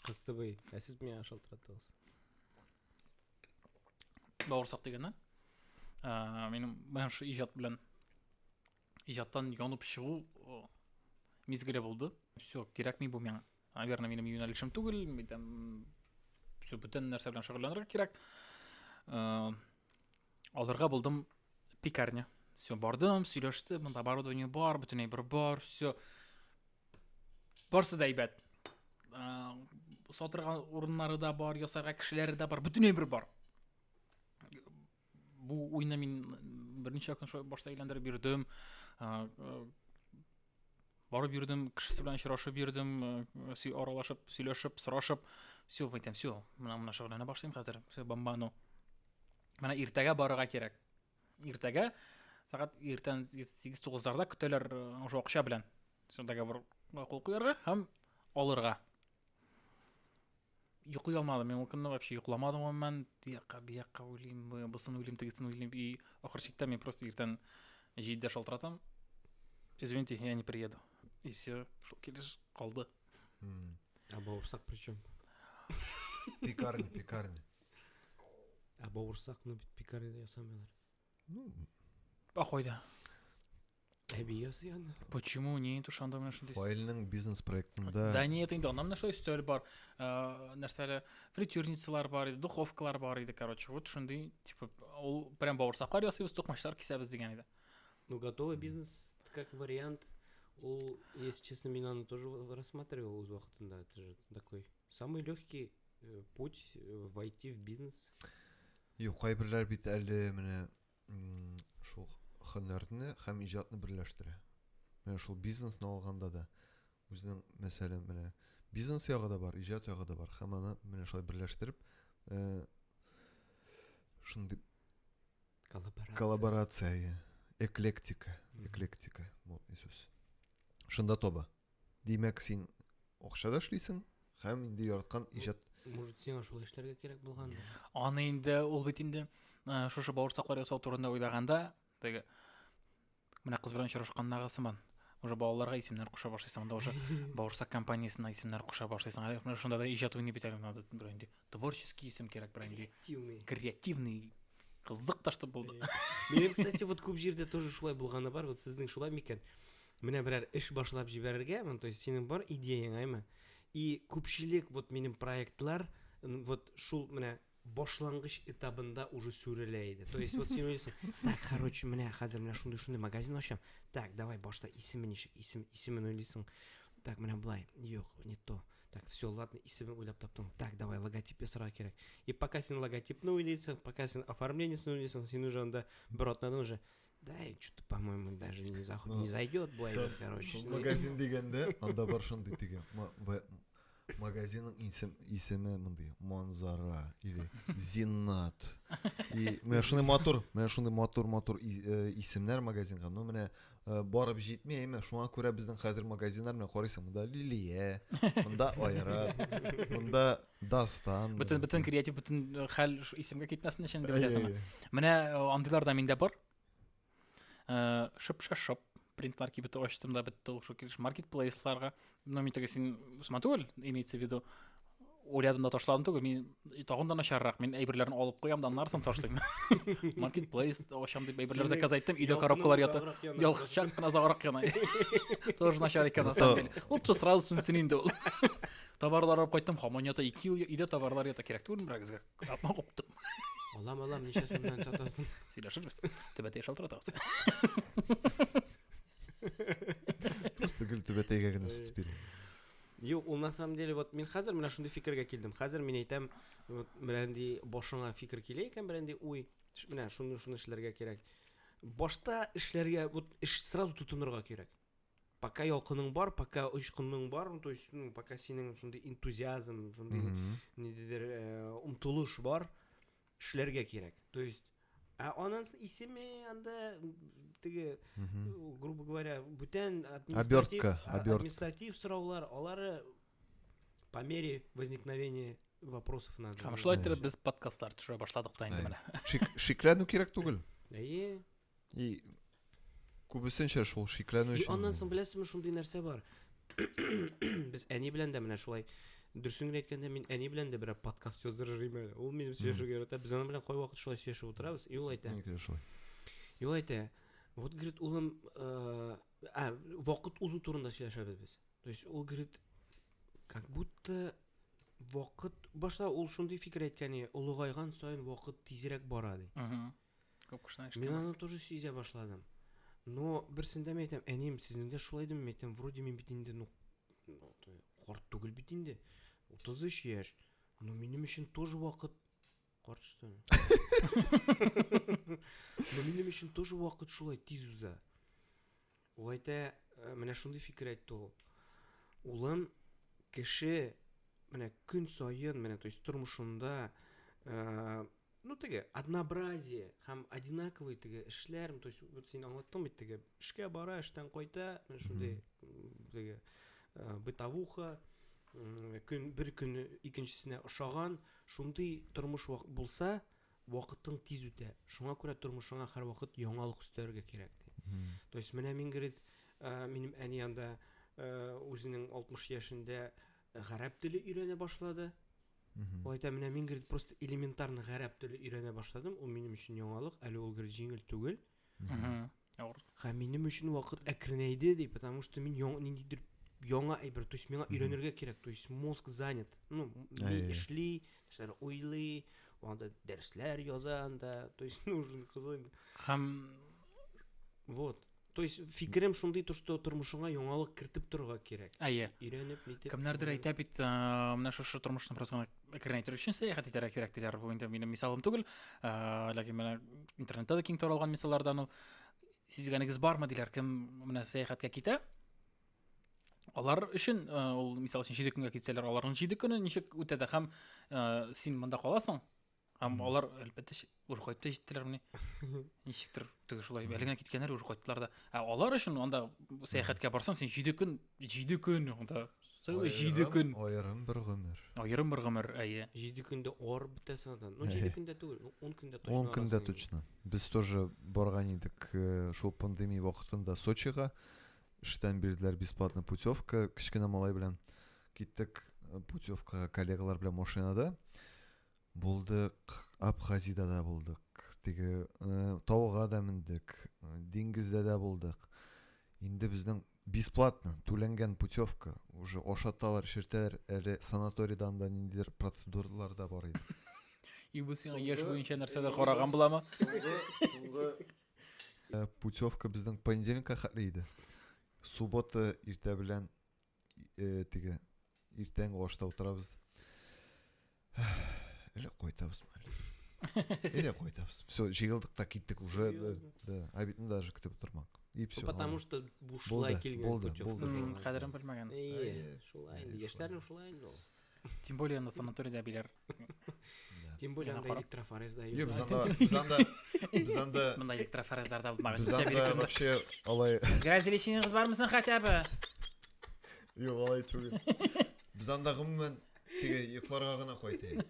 Кыстыбый, ә сез миңа шалтыратыгыз. Бавырсак дигәннән, ә, минем менә шу иҗат белән иҗаттан янып чыгу мизгеле булды. Все, кирәкми бу миңа. Наверное, минем юнәлешем түгел, там все бүтән нәрсә белән шөгыльләнергә кирәк. Э, алырга булдым пекарня. Все, бардым, сөйләште, монда оборудование бар, бүтәнәй бер бар, все. Барсы да әйбәт. Э, сатырга урыннары да бар, ясарга кешеләре дә бар, бүтәнәй бер бар. Бу уйны мин берничә көн башта әйләндереп бирдем. Барып бирдем, кешесе белән очрашып бирдем, аралашып, сөйләшеп, сорашып. Все, әйтәм, все, менә менә шөгыльләнә башлыйм хәзер. Все, бомбану. Менә иртәгә барырга кирәк. Иртәгә сәгать иртән 8-9-ларда көтәләр ошо акча белән. Все договорга кул куярга һәм алырга. Йоклый алмадым, мин ул көнне вообще йокламадым гомумән, тиякка, биякка уйлыйм, бусын уйлыйм, тегесен уйлыйм, и ахыр чиктә мин просто иртән җиддә шалтыратам, извините, я не приеду. И все, шул килеш калды. А бауырсак при чем? Пекарня, пекарня. Ә бауырсакны бит пекарняда ясамыйлар. А кайда? Әби ясый аны. Почему не итү шанда менә шундый. Файлның бизнес проектында. Да нет, инде аннан нәрсә өстәл бар. Э, нәрсәле фритюрницалар бар иде, духовкалар бар иде, короче. Вот шундый, типа, ул прям бавырсаклар ясыйбыз, токмачлар кисәбез дигән иде. Ну, готовый бизнес как вариант. Ул, если честно, мин аны тоже рассматривал үз вакытында. Это же такой Самый легкий э, путь э, войти в бизнес. Юк, кайберләр бит әле менә шул хөнәрне һәм иҗатны берләштерә. Менә шул бизнесны алганда да үзенең мәсәлән менә бизнес ягы да бар, иҗат ягы да бар. Һәм аны менә шулай берләштереп э, шундый коллаборация. Коллаборация, эклектика, эклектика, модный сүз. Шунда тоба. Димәк, син акча да эшлисең һәм инде яраткан иҗат Может, сиңа шулай эшләргә кирәк булган? Аны инде ул бит инде э, шушы бавырсаклар ясау турында уйлаганда, теге менә кыз белән очрашкандагы сыман. Уже балаларга исемнәр куша башлыйсың, анда уже бавырсак компаниясенә исемнәр куша башлыйсың. Әле менә шунда да иҗат уйный бит әле монда бер инде. Творческий исем кирәк бер инде. Креативный. Креативный. Кызык та что булды. Минем, кстати, вот күп җирдә тоже шулай булганы бар. Вот сезнең шулай микән? Менә берәр эш башлап җибәрергә, ну, то есть синең бар идеяң, әйме? И күпчелек вот минем проектлар вот шул менә башлангыч этабында уже сүрелә иде. То есть вот син уйлыйсың, так, короче, менә хәзер менә шундый шундый магазин ачам. Так, давай башта исеме ничек? Исем исемен уйлыйсың. Так, менә блай. Юк, не то. Так, все, ладно, исемен уйлап таптың. Так, давай, логотип ясарга кирәк. И пока син логотипны уйлыйсың, пока син оформлениесен уйлыйсың, син уже анда бер атнадан уже да, и что-то, по-моему, даже не, зах... Но, не зайдет Буайвер, да, короче. Магазин дегенде, анда бар шундый деген. Магазинның исем, исеме мындай, Монзара или Зиннат. И менә шундый матур, менә шундый матур-матур исемнәр магазинга. Ну, менә Э, барып җитми әйме шуңа күрә безнең хәзер магазиннар менә карыйсың монда лилия монда айрат монда дастан бөтен бөтен креатив бөтен э, хәл исемгә китмәсен өчен дип әйтәсеңме менә э, андыйлар да миндә бар шып шып принтлар кибеты ачтым да бетте ул маркетплейсларга Ну, мин теге син Усман түгел, имеется в виду. Уйлядым да ташладым түгел, мин тагын да начаррак, мин әйберләрен алып куям да аннары соң ташлыйм. Маркетплейс ачам дип әйберләр заказ айттым, өйдә коробкалар ята. Ялгышчак кына заграк яна. Тоже начар икән на самом деле. Лучше сразу сүнсен инде ул. Товарлар алып кайттым, хамон ята 2 ел, өйдә товарлар ята, кирәк түгел берәр гезгә. Апма куптым. Алам, алам, ничә сумнан сатасың? Сөйләшербез. Төбәтә шалтыратасың. Просто гел түбәтәйгә генә сүтеп бирә. Юк, ул на самом деле вот мин хәзер менә шундый фикергә килдем. Хәзер мин әйтәм, вот берәнди башыңа фикер килә икән, берәнди уй, менә шуны шуны эшләргә кирәк. Башта эшләргә, вот эш сразу тотынырга кирәк. Пока ялкының бар, пока очкының бар, то есть, ну, пока синең шундый энтузиазм, шундый нидедер э, омтылыш бар, эшләргә кирәк. То есть Ә анын исеме анда теге, грубо говоря, бүтән административ, административ сораулар, алары по мере возникновения вопросов надо. Һәм шулай итеп без подкастлар төшерә башладык та инде менә. Шикләнү кирәк түгел. Әйе. И күбесенчә шул шикләнү өчен. И аннан соң беләсезме шундый нәрсә бар. Без әни белән дә менә шулай дөресен генә әйткәндә мин әни белән дә берәр подкаст яздырыр идем әле. Ул минем сөйләшергә ярата. Без аның белән кайвакыт шулай сөйләшеп утырабыз. И ул әйтә. И ул әйтә. Вот говорит, улым, э, а, вакыт узу турында сөйләшәбез без. То есть ул говорит, как будто вакыт башта ул шундый фикер әйткән, олыгайган саен вакыт тизрәк бара ди. Күп кешенең Мин аны тоже сизә башладым. Но берсендә мин әйтәм, әнием, сезнең дә шулай идеме? Мин әйтәм, вроде мин бит инде, ну, ну карт түгел бит инде. 33 яшь. Но минем өчен тоже вакыт карт что ли? Но минем өчен тоже вакыт шулай тиз уза. Ул әйтә, менә шундый фикер әйтте ул. Улым, кеше менә көн саен, менә то есть тормышында ну теге однообразие һәм одинаковый теге эшләр, то есть вот син аңлаттың бит теге эшкә бара, эштән кайта, менә шундый теге бытовуха, көн бер көн икенчесенә ошаган, шундый тормыш булса, Вакытың тиз үтә, шуңа күрә тормышыңа һәрвакыт яңалык өстәрергә кирәк, ди. То есть менә мин, говорит, минем әни анда үзенең 60 яшендә гарәп теле өйрәнә башлады. Ул әйтә, менә мин, говорит, просто элементарно гарәп теле өйрәнә башладым, ул минем өчен яңалык, әле ул, говорит, җиңел түгел. Авыр. Һәм минем өчен вакыт әкренәйде ди, потому что мин яң, ниндидер яңа әйбер, то есть миңа өйрәнергә кирәк, то есть мозг занят. Ну, ни эшли, нәрсәләр уйлый, анда дәресләр яза анда, то есть ну уже кызы. Һәм вот. То есть фикерем шундый то, что тормышыңа яңалык кертеп торырга кирәк. Әйе. Өйрәнеп, нитеп. Кемнәрдер әйтә бит, менә шушы тормышны бераз гына әкрен әйтер өчен сәяхәт итәргә кирәк диләр бу инде минем мисалым түгел ләкин менә интернетта да киң таралган мисаллардан ул сизгәнегез бармы диләр кем менә сәяхәткә китә алар өчен ул мисал өчен җиде көнгә китсәләр аларның җиде көне ничек үтә дә һәм син монда каласың һәм алар әлбәттә уже кайтты җиттеләр мени ничектер теге шулай әле генә киткәннәр уже кайттылар да ә алар өчен анда сәяхәткә барсаң син җиде көн җиде көн анда җиде көн аерым бер гомер аерым бер гомер әйе җиде көндә арып бетәсең андан ну җиде көндә түгел он көндә точно он көндә точно без тоже барган идек э, шул пандемия вакытында сочига эштән бирделәр бесплатно путевка кечкенә малай белән киттек э, путевкага коллегалар белән машинада Булдык, Абхазида да булдык, теге тауга да мендек, диңгездә дә булдык. Инде безнең бесплатно түләнгән путевка уже ашаталар, шертәләр, әле санаторийдан да ниндидер процедуралар да бар иде. И бу сиңа яшь буенча нәрсәдер караган буламы? Соңгы э, путевка безнең понедельникка хәтле иде. Суббота иртә белән э, теге Иртәнге ашта утырабыз. Әле кайтабызмы әле? Әле кайтабыз. Все, җыелдык та киттек уже. Да, обедны даже көтеп утырмак. И все. Потому что бушлай килгән. Булды, булды. Кадерен белмәгән. Шулай инде, яшьләрнең шулай инде ул. Тем более на санаторийда билер. Тем более анда электрофорез да юк. Без анда без анда без анда Монда электрофорезлар да булмаган. Без анда вообще алай Грязелесиңиз бармы син хотя бы? Юк, алай түгел. Без анда гомумән теге йокларга гына кайтыйк.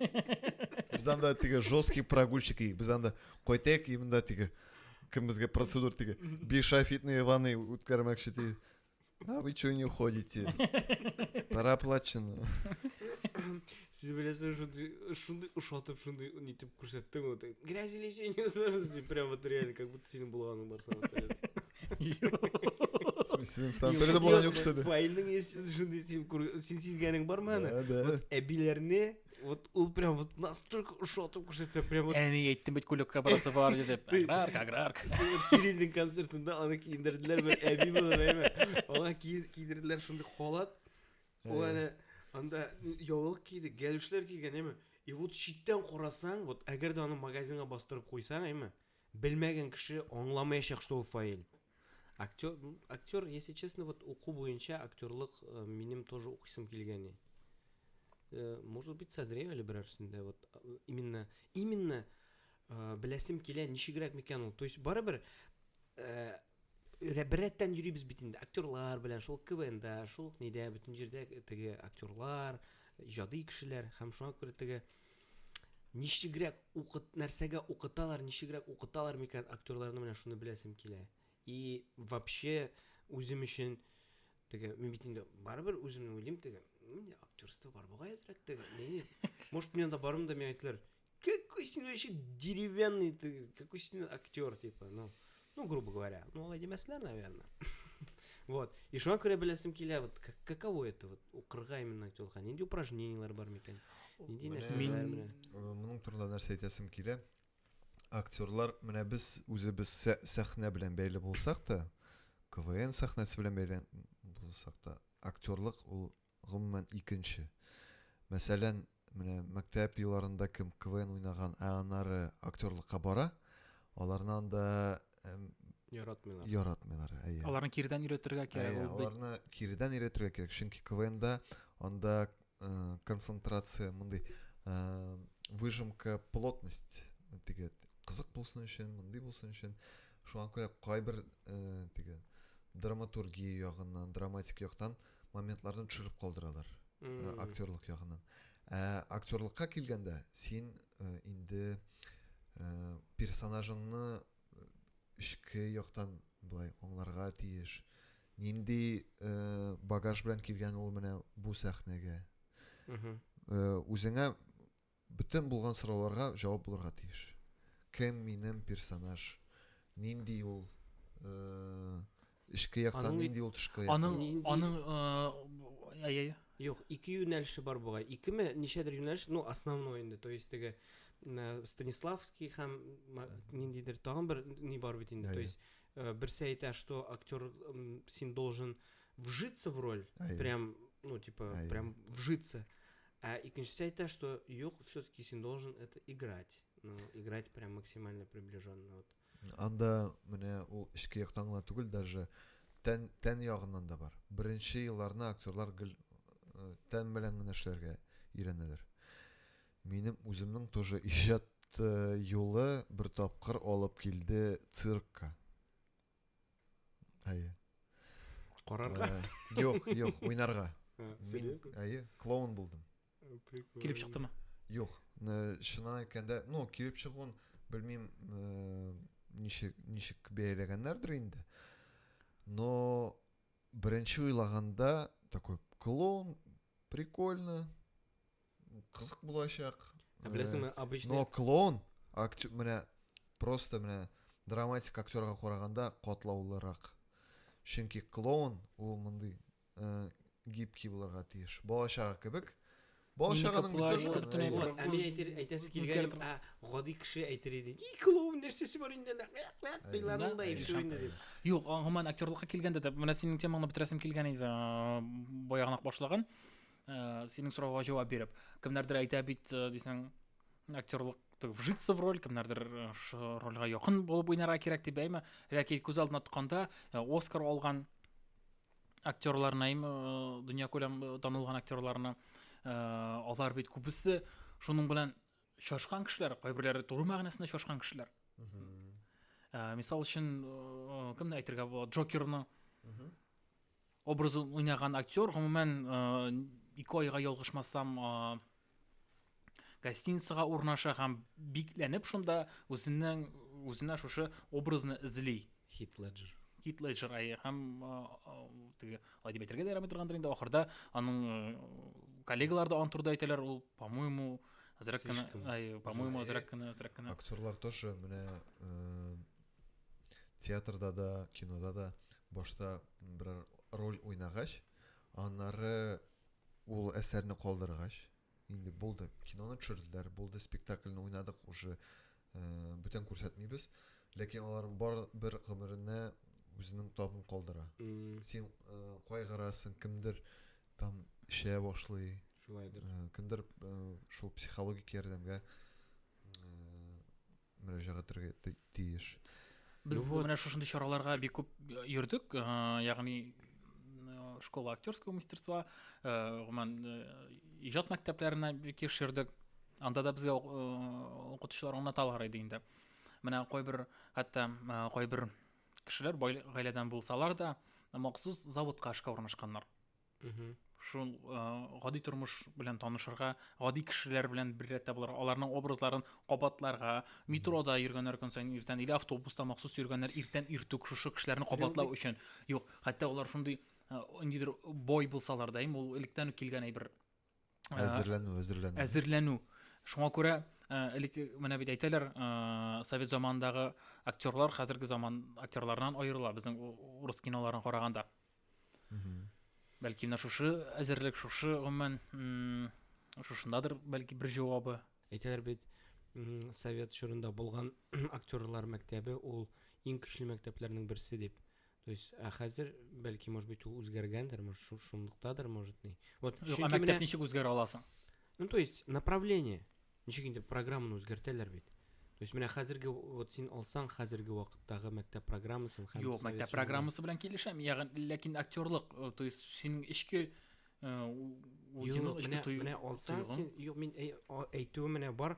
Без анда теге жесткий прогульщик, без анда кайтыйк, именно теге кем безгә процедур теге бишафитный ванны үткәрмәкче ди. А вы что не уходите? Пора плачено. Сез беләсез шундый шундый ошатып шундый нитеп күрсәттең вот грязь или еще не знаю дип прям вот реально как будто синең булганың бар санаториядә. В смысле, синең санаториядә булган юк что ли? Файлның еш шундый син күр- син сизгәнең бармы аны? Да, да. Вот әбиләрне Вот ул прям вот настолько ушел, там кушается прям вот... Әни әйттем бит күлеккә барасы бар диде. Аграрк, аграрк. Сириннең концертында аны киендерделәр бер әби булып әйме. Аңа киендерделәр шундый халат. Ул әле анда яулык киде, гәлүшләр кигән әйме. И вот читтән карасаң, вот әгәр дә аны магазинга бастырып куйсаң әйме, Белмәгән кеше аңламаячак что ул фаэль. Актер, актер, если честно, вот уку буенча актерлык э, минем тоже укыйсым килгәни. Э, может быть, созрею әле берәрсендә. Вот э, именно, именно э, беләсем килә, ничегрәк микән ул. То есть, барыбер э, беррәттән йөрибез бит инде актерлар белән шул квнда шул нидә бөтен җирдә теге актерлар иҗади кешеләр һәм шуңа күрә теге ничегрәк укыт нәрсәгә укыталар ничегрәк укыталар микән актерларны менә шуны беләсем килә и вообще үзем өчен теге мин бит инде барыбер үземне уйлыйм теге менә актерство бар бугай әзрәк теге может мен анда барырмын да миңа әйтелер Какой с ним вообще деревянный, ты, какой с ним актер, типа, ну, ну, грубо говоря, ну, Владимир Меслер, наверное. Вот. И шуңа күрә беләсем килә, вот как, каково это вот укырга именно телка, нинди упражнениялар бар микән? Нинди нәрсәләр менә? Моның турында нәрсә әйтәсем килә? Актерлар, менә без үзебез сәхнә белән бәйле булсак та, КВН сәхнәсе белән бәйле булсак та, актерлык ул гомумән, икенче. Мәсәлән, менә мәктәп елларында кем КВН уйнаган, ә аннары актерлыкка бара, аларны анда яратмыйлар. Яратмыйлар, әйе. Аларны кирдән өйрәтергә кирәк. Әйе, аларны кирдән өйрәтергә кирәк, чөнки КВНда анда э, концентрация мондый э, выжимка плотность теге кызык булсын өчен, мондый булсын өчен. Шуңа күрә кайбер э, теге драматургия ягыннан, драматик яктан моментларны төшереп калдыралар mm. актерлык ягыннан ә актерлыкка килгәндә син э, инде э, персонажыңны эчке яктан былай аңларга тиеш нинди э, багаж белән килгән ул менә бу сәхнәгә mm -hmm. э, үзеңә Бөтен булган сорауларга җавап булырга тиеш. Кем минем персонаж? Нинди ул эчке яктан нинди ул тышкы яктан? Аның аның әйе. Юк, ике юнәлеше бар бугай. Икеме, ничәдер юнәлеш, ну, основной инде, то есть теге Станиславский һәм ниндидер тагын бер ни бар бит инде. То есть э, берсе әйтә, что актер син должен вжиться в роль, прям, ну, типа, прям вжиться. А икенчесе әйтә, что юк, все-таки син должен это играть. Ну, играть прям максимально приближенно. Вот. Анда менә ул эчке яктан гына түгел, даже тән, тән ягыннан да бар. Беренче елларны актерлар гел э, тән белән генә эшләргә өйрәнәләр. Минем үземнең тоже иҗат э, юлы бер тапкыр алып килде циркка. Әйе. Карарга? Э, юк, юк, уйнарга. Әйе, клоун булдым. Килеп чыктымы? Юк, э, шына әйткәндә, ну, килеп чыгуын белмим, э, ничек ничек бәяләгәннәрдер инде. Но беренче уйлаганда такой клоун прикольно, кызык булачак. Ә беләсеңме, обычный... Но клоун, актер, менә, просто менә драматик актерга караганда катлаулырак. Чөнки клоун ул мондый э, гибкий булырга тиеш. Балачага кебек. Балачаганың бөтен Әми әйтер әйтәсе килгән, ә гади кеше әйтер иде. И клоун нәрсәсе бар инде? Кыйларның да ише инде дип. Юк, гомумән актерлыкка килгәндә дә менә синең темаңны бетерәсем килгән иде. Баягынак башлаган. ә, синең сорауга җавап биреп кемнәрдер әйтә бит э, дисең актерлык вжиться в роль кемнәрдер э, шушы рольгә якын булып уйнарга кирәк дип әйме ләкин күз алдына тотканда э, оскар алган актерларны әйме дөнья күләм танылган актерларны алар бит күбесе шуның белән шашкан кешеләр кайберләре туры мәгънәсендә шашкан кешеләр мисал өчен кемне әйтергә була джокерны Образын уйнаган актер, гомумән, ике айга ялгышмасам, гостиницага урнаша һәм бикләнеп шунда үзенең үзенә шушы образны эзли. Хит Леджер. Хит Леджер ай һәм теге алай дип әйтергә дә ярамый торгандыр инде ахырда аның коллегалары да аны турыда әйтәләр ул по-моему азрак кына ай по-моему азрак кына азрак кына актерлар тоже менә театрда да, кинода да башта берәр роль уйнагач, аннары ул әсәрне калдыргач, инде булды, киноны төшерделәр, булды, спектакльне уйнадык, уже э, бүтән күрсәтмибез, ләкин аларның бар бер гомеренә үзенең табын калдыра. Mm. Син э, кайгырасың, кемдер там эчә башлый. Шулайдыр. Э, кемдер э, шул психологик ярдәмгә э, мөрәҗәгать итәргә тиеш. Без ну, менә шушындый чараларга бик күп э, йөрдек, э, ягъни э, школа актерского мастерства, гомумән иҗат мәктәпләренә бик еш йөрдек. Анда да безгә укытучылар аңлаталар иде инде. Менә кайбер хәтта кайбер кешеләр бай гаиләдән булсалар да, махсус заводка эшкә урнашканнар. шул э, гади тормыш белән танышырга гади кешеләр белән бер рәттә булырга аларның образларын кабатларга метрода йөргәннәр көн саен иртән или автобуста махсус йөргәннәр иртән иртүк шушы кешеләрне кабатлау өчен юк хәтта алар шундый э, ниндидер бой булсалар да ул электән үк килгән әйбер Э, әзерләнү әзерләнү әзерләнү шуңа күрә э, элек менә бит әйтәләр э, совет заманындагы актерлар хәзерге заман актерларынан аерыла безнең урыс киноларын караганда бәлки менә шушы әзерлек шушы гомумән шушындадыр бәлки бер җавабы әйтәләр бит совет чорында булган актерлар мәктәбе ул иң көчле мәктәпләрнең берсе дип То есть, ә хәзер, бәлки, может быть, ул үзгәргәндер, может, шу- шунлыктадыр, может, ни. Вот, Юк, чөнки ә мәктәп менә- ничек үзгәрә аласың? Ну, то есть, направление. Ничек инде программаны үзгәртәләр бит. То есть, менә хәзерге, вот син алсаң, хәзерге вакыттагы мәктәп программасын һәм... Юк, совет мәктәп чорында- программасы белән килешәм. Ягъни, ләкин актерлык, э, то есть синең эчке э, у- Юк, уйның, эчке менә, тою- менә алсаң, тойгың. син, юк, мин әй- а- әйтүем менә бар,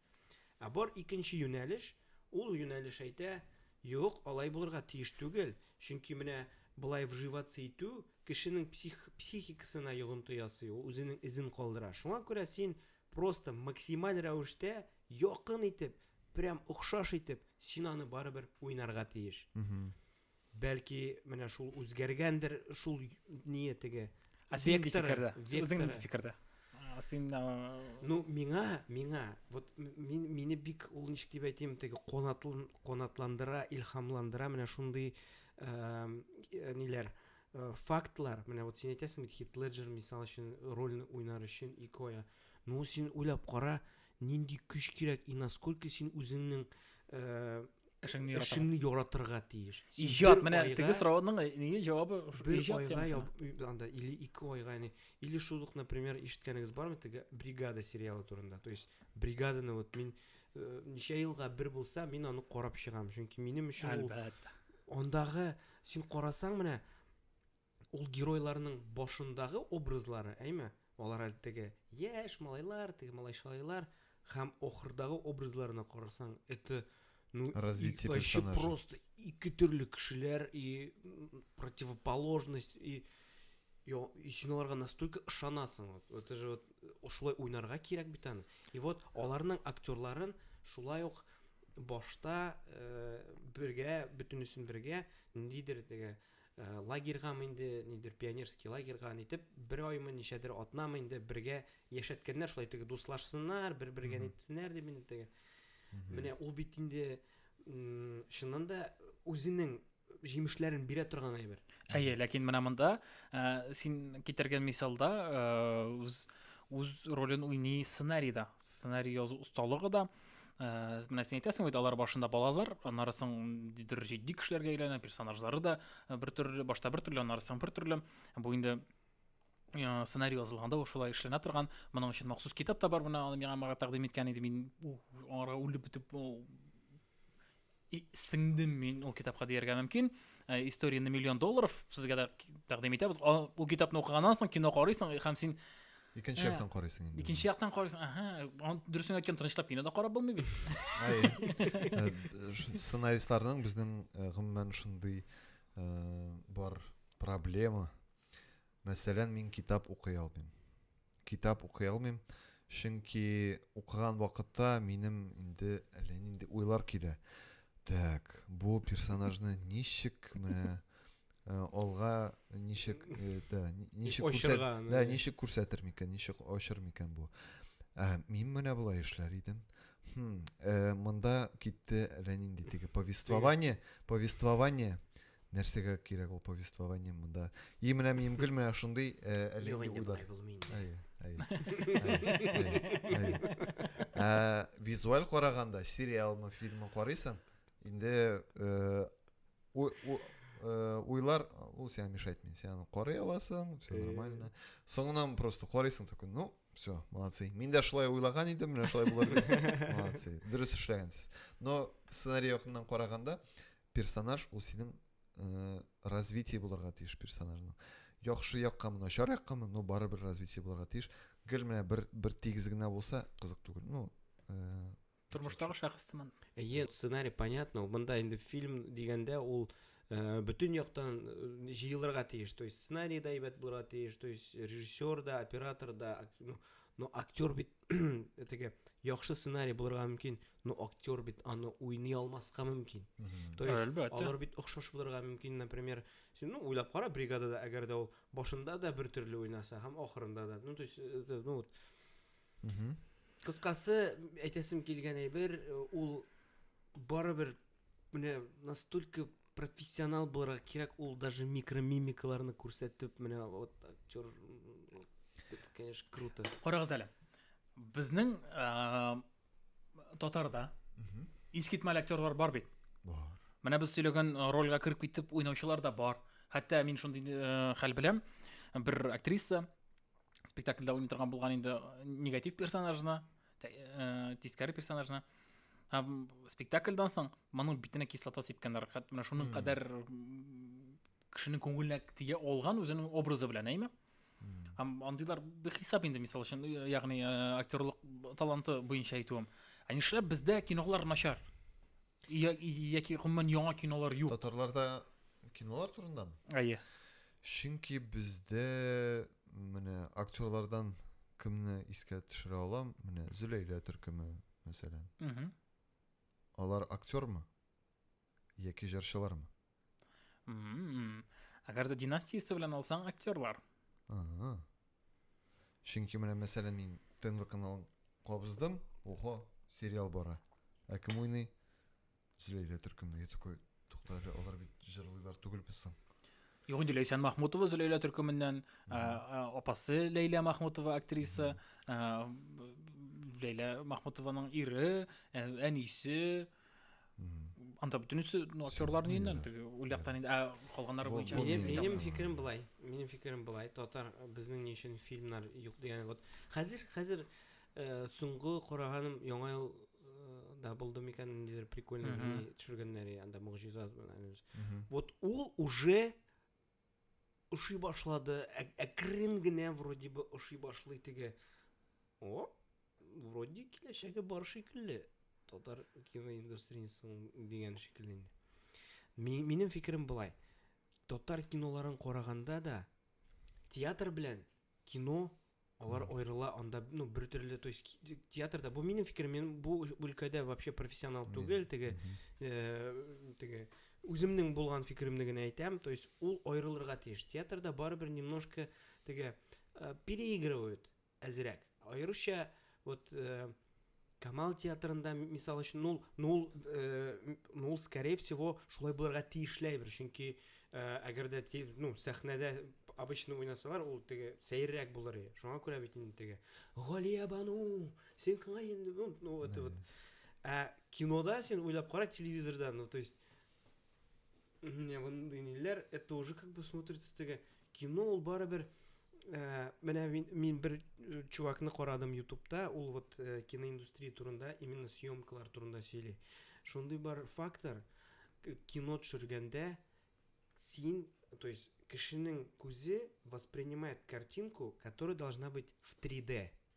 Ә бар икенче юнәлеш, ул юнәлеш әйтә, Юк, алай булырга тиеш түгел, чөнки менә болай вживаться итү кешенең псих, психикасына йогынты ясый, ул үзенең эзен калдыра. Шуңа күрә син просто максималь рәвештә, якын итеп, прям охшаш итеп, син аны барыбер уйнарга тиеш. Бәлки, менә шул үзгәргәндер, шул ние теге. Ә син нинди фикердә? Үзең нинди фикердә? Син Ну, миңа, миңа, вот мин мине бик ул ничек дип әйтим, теге канатлан канатландыра, илһамландыра менә шундый э, ниләр э, фактлар, менә вот син әйтәсең бит Хит Леджер мисал өчен рольны уйнар өчен икоя. Ну, син уйлап кара, Нинди көч кирәк и насколько син үзеңнең эшеңне яратырга, эшеңне яратырга тиеш. Иҗат менә теге сораудың э, нигә җавабы иҗат темасына. Анда или ике айга, яни или шул ук, например, ишеткәнегез бармы теге бригада сериалы турында? То есть бригаданы вот мин э, ничә елга бер булса, мин аны карап чыгам, чөнки минем өчен ул андагы син карасаң менә Ул геройларның башындагы образлары, әйме, алар әле теге яшь малайлар, теге малай-шалайлар, һәм ахырдагы образларына карасаң, это, ну, Развитие вообще персонажа. просто ике төрле кешеләр и м, противоположность и я, и син аларга настолько ышанасың. Вот, это же вот э, шулай уйнарга кирәк бит аны. И вот аларның актерларын шулай ук башта э, бергә, бөтенесен бергә ниндидер теге Лагерьгамы инде, нидер пионерский лагерьга нитеп, бер аймы, ничәдер атнамы инде бергә яшәткәннәр, шулай теге дуслашсыннар, бер-бергә нитсеннәр дип инде теге. Менә ул бит инде чыннан да үзенең җимешләрен бирә торган әйбер. Әйе, ләкин менә монда э, син китергән мисалда э, үз үз ролен уйный сценарийда. Сценарий язу осталыгы да, ә, менә син әйтәсең бит алар башында балалар аннары соң дидер җитди кешеләргә әйләнә персонажлары да э, бер төрле башта бер төрле аннары соң бер төрле бу инде э, сценарий язылганда ул шулай эшләнә торган моның өчен махсус китап та бар менә аны миңа мага тәкъдим иткән иде мин аңарга үлеп бетеп сеңдем мин ул китапка дияргә мөмкин э, история на миллион долларов сезгә дә тәкъдим итәбез ул китапны укыганнан соң кино карыйсың һәм син икенче яктан карыйсың инде икенче яктан карыйсың ага дөресен әйткән тынычлап кино да карап булмый бит э, сценаристларның безнең э, гомумән шундый бар проблема Мәсәлән, мин китап укый алмыйм. Китап укый алмыйм, чөнки укыган вакытта минем инде әллә нинди уйлар килә. Так, бу персонажны ничек менә Э, алга ничек э, да ничек күрсәт да ничек күрсәтер микән ничек ачыр микән бу ә, мин менә болай эшләр идем хм, ә, э, монда китте әллә нинди теге повествование повествование Нәрсәгә кирәк ул повествование монда? И менә Мимгөл менә шундый әле уйлар. Әйе, әйе. Ә визуаль караганда сериалмы, фильмы карыйсың? Инде э, э, уйлар ул сиңа мешать мин. Син аны карый аласың, все нормально. Соңыннан просто карыйсың только, ну, все, молодцы. Мин дә шулай уйлаган идем, менә шулай булыр. Молодцы. Дөрес эшләгәнсез. Но сценарий якыннан караганда, Персонаж ул синең э, развитие булырга тиеш персонажның. Яхшы яккамы, начар яккамы, но барыбер развитие булырга тиеш. Гел менә бер бер тигез генә булса кызык түгел. Ну, э, Тормыштагы шәхес сыман. Әйе, сценарий понятно, ул монда инде фильм дигәндә ул э, бөтен яктан э, җыелырга тиеш. То есть сценарий да әйбәт булырга тиеш, то есть режиссер да, оператор да, ак- ну, но актер бит теге яхшы сценарий булырга мөмкин но актер бит аны уйный алмаска мөмкин то есть Әлбәттә. алар бит охшаш булырга мөмкин например син ну уйлап кара бригадада әгәр дә ул башында да бер төрле уйнаса һәм ахырында да ну то есть э, ну вот кыскасы әйтәсем килгән әйбер э, ул барыбер менә настолько профессионал булырга кирәк ул даже микромимикаларны күрсәтеп менә вот актер это конечно круто карагыз әле безнең ә, татарда искитмәл актерлар бар бит бар менә без сөйләгән рольгә кереп китеп уйнаучылар да бар хәтта мин шундый ә, хәл беләм бер актриса спектакльдә уйный торган булган инде негатив персонажны Ә, тискәре персонажны һәм спектакльдан соң моның битенә кислота сипкәннәр хәтта менә шуның кадәр кешенең күңеленә тия алган үзенең образы белән әйме һәм андыйлар бихисап инде мисал өчен ягъни актерлык таланты буенча әйтүем ә нишләп бездә кинолар начар Я- Яки гомумән яңа кинолар юк. Татарларда кинолар турында мы? Әйе. Чөнки бездә менә актерлардан кемне искә төшерә алам? Менә Зөләйлә төркеме, мәсәлән. Мгм. Алар актёрмы? Яки җырчылармы? Ммм. Әгәр дә династиясе белән алсаң, актерлар. Ага. Чөнки менә мәсәлән мин ТНВ каналын кабыздым, охо, сериал бара. Ә кем уйный? Зөләйлә төркеме. Я такой, тукта әле, алар бит җырлыйлар түгелме соң? Юк, инде Ләйсән Махмутова Зөләйлә төркеменнән, ә, ә, апасы Ләйлә Махмутова актриса, ә, Ләйлә Махмутованың ире, ә, әнисе, анда бөтенесе актерлар инде теге ул яктан инде ә калганнары буенча минем фикерем былай минем фикерем былай татар безнең ни өчен фильмнар юк дигән вот хәзер хәзер э, соңгы караганым яңа ел э, да булды микән ниндидер прикольный төшергәннәр анда могҗиза вот ул уже Ошый башлады, әкрен генә вроде бы ошый башлый теге. О, вроде киләчәге бар шикелле. Татар киноиндустриясенең дигән шикелле инде. Минем фикерем былай. Татар киноларын караганда да театр белән кино Алар аерыла анда, ну, бер төрле, то есть театрда, бу минем фикерем, мин бу өлкәдә вообще профессионал түгел, теге, э, теге, үземнең булган фикеремне генә әйтәм, то есть ул аерылырга тиеш. Театрда барыбер немножко, теге, э, переигрывают әзрәк. Аеруча, вот, э, Камал театрында, мисал өчен, ну, ну, ну, скорее всего, шулай булырга тиешле әйбер, чөнки әгәр дә ну, сәхнәдә обычно уйнасалар, ул теге сәеррәк булыр иде. Шуңа күрә бит инде теге Галия бану, син кыңа инде, ну, это вот. Ә кинода син уйлап кара телевизордан, ну, то есть Менә мондый ниләр, это уже как бы смотрится теге кино ул барыбер ә, менә мин, мин бер э, чувакны карадым ютубта ул вот ә, э, киноиндустрия турында именно съемкалар турында сөйли шундый бар фактор кино төшергәндә син то есть кешенең күзе воспринимает картинку которая должна быть в 3d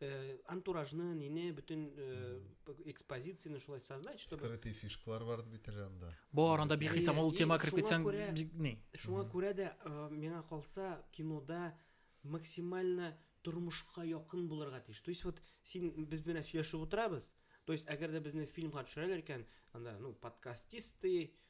Э, антуражны нине бөтен э, экспозицияне шулай создать чтобы скрытый фишкалар бар бит әле анда бар анда бихисам ул тема кереп китсәң ни шуңа күрә дә э, миңа калса кинода максимально тормышка якын булырга тиеш то есть вот син без белән сөйләшеп утырабыз то есть әгәр дә безне фильмга төшерәләр икән анда ну подкастисты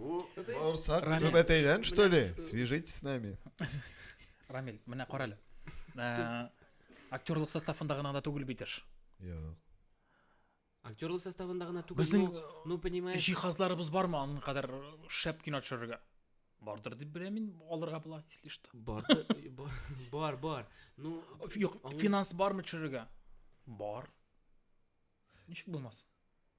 Бу баурсак түбәтәйдән, что ли? Свяжитесь с нами. Рамиль, менә кара әле. Э, актерлык составында гына да түгел бит эш. Юк. Актерлык составында гына түгел. Безнең ну, ну понимаешь. Җиһазларыбыз бармы аның кадәр шәп кино төшерергә? Бардыр дип беләм мин, алырга була, если что. Бар, бар, бар. Ну, юк, финанс бармы төшерергә? Бар. Ничек булмас?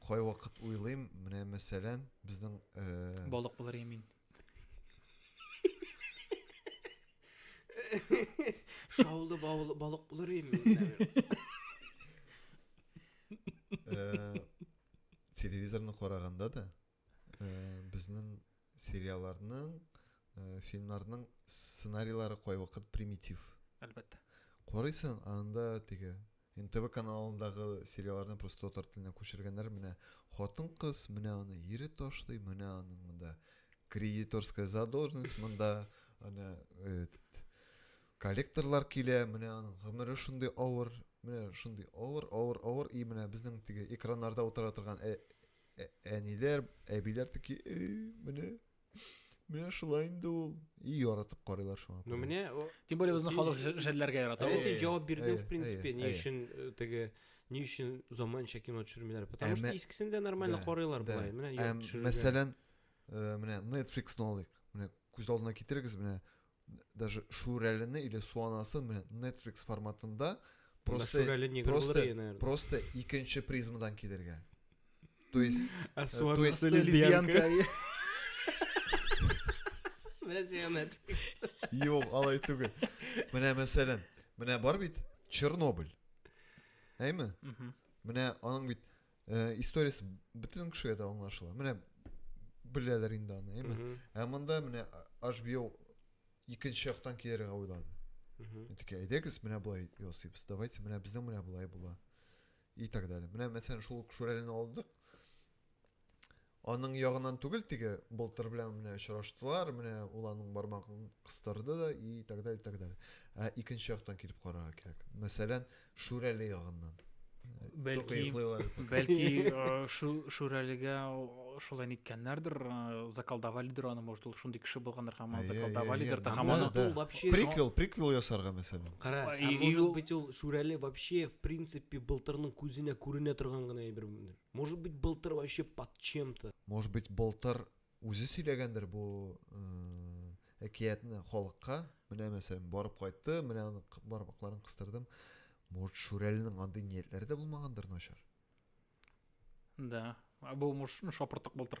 Кайвакыт уйлыйм, менә мәсәлән, безнең э, Балык булыр я мин. Шаулы бавыл- балык булыр идем мин, наверное. э, телевизорны караганда да э, безнең Сериалларның, э, фильмнарның сценарийлары кайвакыт примитив. Әлбәттә. Карыйсың, анда теге НТВ каналындагы сериалларны просто татар теленә күчергәннәр. Менә хатын-кыз, менә аны ире ташлый, менә аның монда кредиторская задолженность, монда ана э, коллекторлар килә, менә аның гомере шундый авыр, менә шундый авыр, авыр, авыр и менә безнең теге экраннарда утыра торган э, Ә, әниләр, әбиләр таки, менә Менә шулай инде ул. И яратып карыйлар шуңа. Ну менә Тем более безнең халык җәлләргә ярата. Әйе, син җавап бирдең, в принципе, ни өчен э, теге ни өчен заманча кино төшермиләр? Потому что искесен дә нормально карыйлар болай. Менә төшерелгән. Мәсәлән, э, менә Netflix-ны алыйк. Менә күз алдына китерегез, менә даже шүрәлене или суанасын менә Netflix форматында просто просто просто икенче призмадан килергә то есть э, то есть лесбиянка юк алай түгел менә мәсәлән менә бар бит чернобыль әйме менә аның бит Э, историясе бөтен кешегә дә аңлашыла. Менә беләләр инде аны, әйме? Ә монда менә HBO икенче яктан килергә уйлады. Әйтеке, әйдәгез, менә болай ясыйбыз. Давайте, менә безнең менә болай була. И так далее. Менә мәсәлән, шул Шүрәлен алдык. Аның ягыннан түгел, теге былтыр белән менә очраштылар, менә ул аның бармагын кыстырды да и так далее, и так далее. Ә икенче яктан килеп карарга кирәк. Мәсәлән, Шүрәле ягыннан. Бәлки, бәлки шу, Шүрәлегә шулай ниткәннәрдер, заколдовалидер аны, может, ул шундый кеше булгандыр, һәм аны заколдовалидер, һәм аны... Приквел, приквел ясарга, мәсәлән. Кара, может быть, ул Шүрәле вообще, в принципе, былтырның күзенә күренә торган гына әйбер булмыйдыр. Может быть, былтыр вообще под чем-то. Может быть, былтыр үзе сөйләгәндер бу э, әкиятне халыкка. Менә мәсәлән, барып кайтты, менә аны бармакларын кыстырдым. Может, Шүрәленең андый ниятләре дә булмагандыр начар. Да. Бу муш шапыртык былтыр.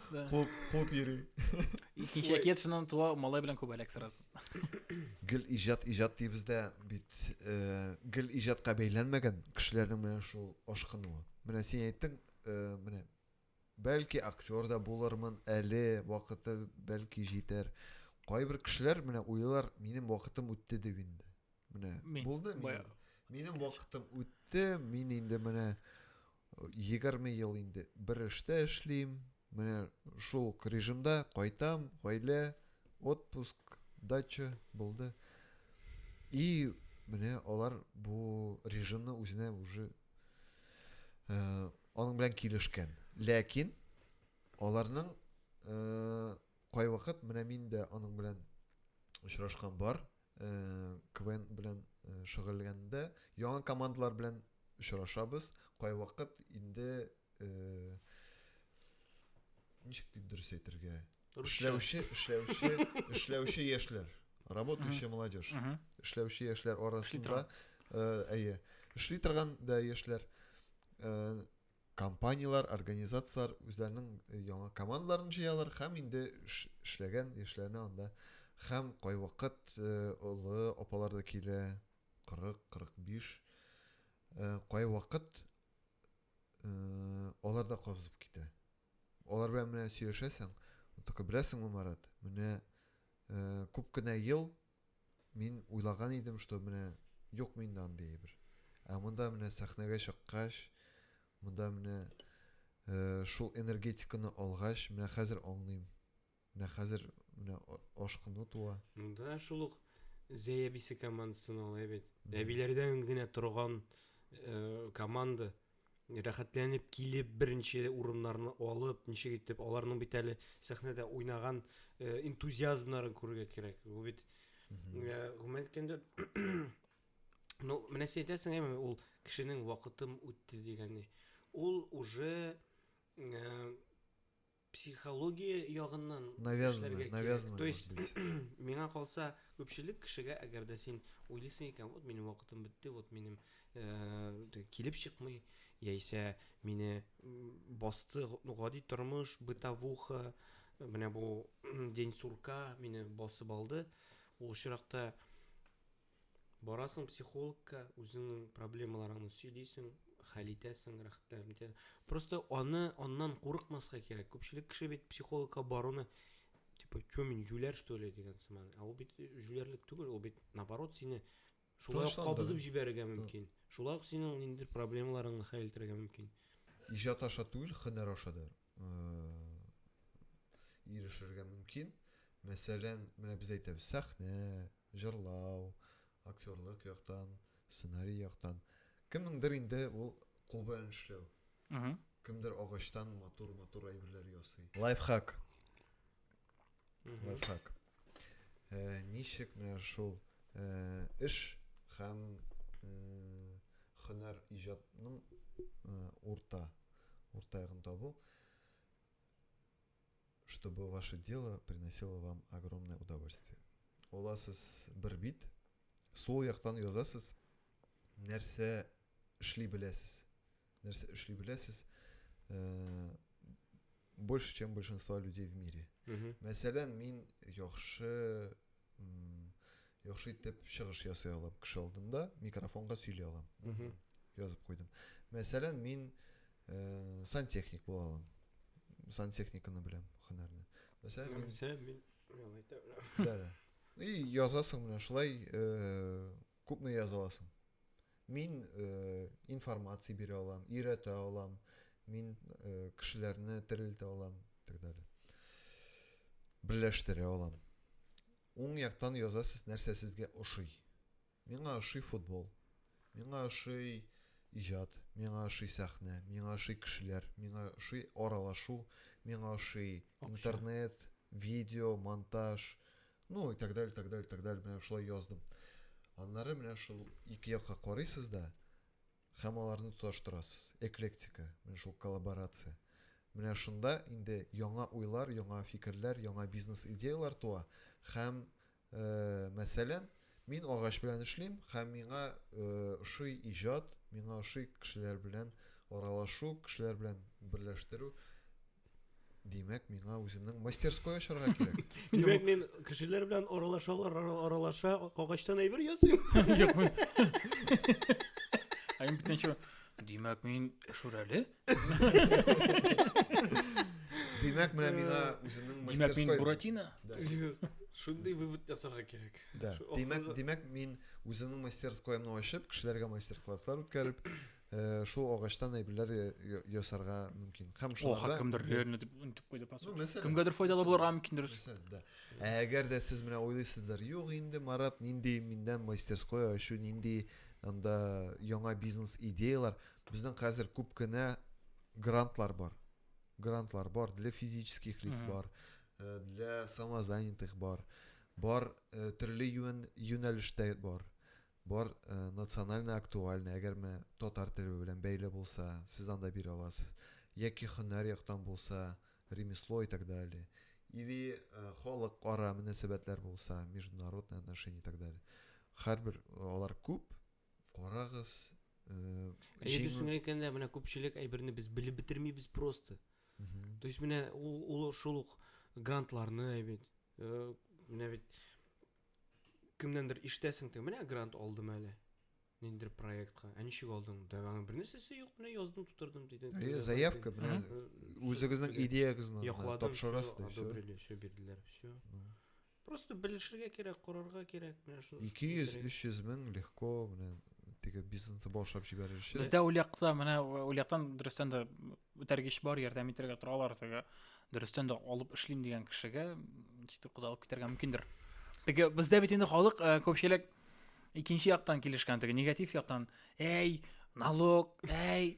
Да. Куып, куып йөри. Икенче әкиятшынан туа малай белән күбәләк сразу. Гел иҗат, иҗат дибез дә бит. Э, гел иҗатка бәйләнмәгән кешеләрнең менә шул ашкынуы. Менә син әйттең, э, менә бәлки актер да булырмын әле, вакыты бәлки җитәр. Кайбер кешеләр менә уйлар, минем вакытым үтте дип инде. Менә Мин, булды минем. Минем вакытым үтте, мин инде менә 20 э, ел инде бер эштә эшлим. Менә шул режимда кайтам, гаилә, отпуск, дача булды. И менә алар бу режимны үзенә уже ә, э, аның белән килешкән. Ләкин аларның ә, э, кайвакыт менә мин дә аның белән очрашкан бар КВН белән шөгыльләнгәндә яңа командалар белән очрашабыз. Кайвакыт инде ничек дип дөрес әйтергә? Эшләүче, эшләүче, эшләүче яшьләр, работающая молодежь. Эшләүче яшьләр арасында, әйе, эшли торган да яшьләр компанияләр, организацияләр үзләренең э, яңа командаларын җыялар һәм инде эшләгән яшьләрне анда һәм кайвакыт э, олы апалар да килә 40-45 э, кайвакыт алар да кабызып китә алар белән менә сөйләшәсең только беләсеңме марат менә күп кенә ел Мин уйлаган идем, что менә юк миндә андый әйбер. Ә монда менә сәхнәгә чыккач, монда менә шул энергетиканы алгач, менә хәзер аңлыйм. Менә хәзер менә ашкыну туа. Монда шул ук Зәй әбисе командасына алай бит. Әбиләрдән генә торган команда. рәхәтләнеп килеп, беренче урыннарны алып, ничек итеп аларның бит әле сәхнәдә уйнаган э, энтузиазмнарын күрергә кирәк. Бу бит э, гомумән әйткәндә Ну, менә син әйтәсең, әйме, ул кешенең вакытым үтте дигәне. Ул уже э, Психология ягыннан эшләргә кирәк. То есть, миңа калса, күпчелек кешегә, әгәр дә син уйлыйсың икән, вот минем вакытым бетте, вот минем килеп чыкмый, яисә мине басты гади тормыш, бытовуха, менә бу день сурка мине басып алды, ул очракта, Барасың психологка, үзеңнең проблемаларыңны сөйлисең, хәл итәсең, рәхәтләнеп итә. Просто аны аннан курыкмаска кирәк. Күпчелек кеше бит психологка баруны типа, что мин җүләр что ли дигән сыман. Ә ул бит җүләрлек түгел, ул бит наоборот сине шулай ук кабызып җибәрергә мөмкин. Шулай ук синең ниндидер проблемаларыңны хәл итәргә мөмкин. Иҗат аша түгел, һөнәр аша да ирешергә мөмкин. Мәсәлән, менә без әйтәбез, сәхнә, Җырлау, актерлык яктан, сценарий яктан. Кемнеңдер инде ул кул белән эшләү. Кемдер агачтан матур-матур әйберләр ясый. Лайфхак. Лайфхак. Э, ничек менә шул э, эш һәм э, хөнәр иҗатның урта урта ягын табу. чтобы ваше дело приносило вам огромное удовольствие. Оласыз бер бит, сол яктан язасыз, нәрсә эшли беләсез. Нәрсә эшли беләсез, э, больше, чем большинство людей в мире. Мәсәлән, мин яхшы яхшы итеп чыгыш ясый алам кеше алдында микрофонга сөйли алам язып куйдым мәсәлән мин ә, сантехник була алам сантехниканы беләм һөнәрне мәсәлән мин и язасың менә шулай э, Күпме яза аласың? Мин э, информация бирә алам, өйрәтә алам, мин э, кешеләрне терелтә алам, так далее. Берләштерә алам. Уң яктан язасыз нәрсә сезгә ошый. Миңа ошый футбол. Миңа ошый иҗат, миңа ошый сәхнә, миңа ошый кешеләр, миңа ошый аралашу, миңа ошый интернет, видео, монтаж, Ну и так далее, так далее, так далее, менә шулай яздым. Аннары менә шул ике якка карыйсыз да, һәм аларны тоташтырасыз. Эклектика, менә шул коллаборация. Менә шунда инде яңа уйлар, яңа фикерләр, яңа бизнес идеяләр туа һәм, э, мәсәлән, Мин агач белән эшлим һәм миңа ошый иҗат, миңа ошый кешеләр белән аралашу, кешеләр белән берләштерү. Димәк, миңа үземнең мастерской ачарга кирәк. Димәк, мин кешеләр белән аралашалар, аралаша, агачтан әйбер ясыйм. Юк, мин. Ә мин бүтәнчә, димәк, мин шүрәле. Димәк, менә миңа үземнең мастерской. Димәк, мин Буратино? Да. Шундый вывод ясарга кирәк. Да. Димәк, димәк, мин үземнең мастерскоемны ачып, кешеләргә мастер-класслар үткәреп, э, шул агачтан әйберләр ясарга мөмкин. Һәм шуларда Оха, кемдер лерне дип үтеп куйды пасу. Ну, Кемгәдер файдалы булырга мөмкин дөрес. Да. Ә әгәр дә сез менә уйлыйсыздыр, юк инде Марат нинди миндән мастерское ачу, нинди анда яңа бизнес идеялар, Безнең хәзер күп кенә грантлар бар. Грантлар бар для физических лиц бар, э, для самозанятых бар, бар э, төрле юн, юнәлештә бар. Бар э, национальный актуальный, әгәр менә татар теле белән бәйле булса, сез анда бирә аласыз. Яки һөнәр яктан булса, ремесло и так далее. Или э, халык ара мөнәсәбәтләр булса, международные отношения и так далее. Хәрбер алар күп, Карагыз, Әйе, дөресен әйткәндә, менә күпчелек әйберне без белеп бетермибез просто. То есть менә ул шул ук грантларны әйбит. Э, менә бит кемнәндер иштәсең тә, менә грант алдым әле. Ниндер проектка. Ә ничек алдың? Да аның бернәрсәсе юк, менә яздым, тутырдым диде. Әйе, заявка белән э, үзегезнең идеягызны тапшырасыз. Одобрили, все бирделәр, все. Просто белешергә кирәк, корырга кирәк, менә шуны. 200-300 мең легко менә теге бизнесны башлап җибәрер өчен. Бездә ул якта менә ул яктан дөрестән дә үтәргеч бар, ярдәм итәргә торалар теге. Дөрестән дә алып эшлим дигән кешегә читер кыз алып китәргә мөмкиндер. Теге бездә бит инде халык э, күпчелек икенче яктан килешкән теге негатив яктан. Әй, налог, әй,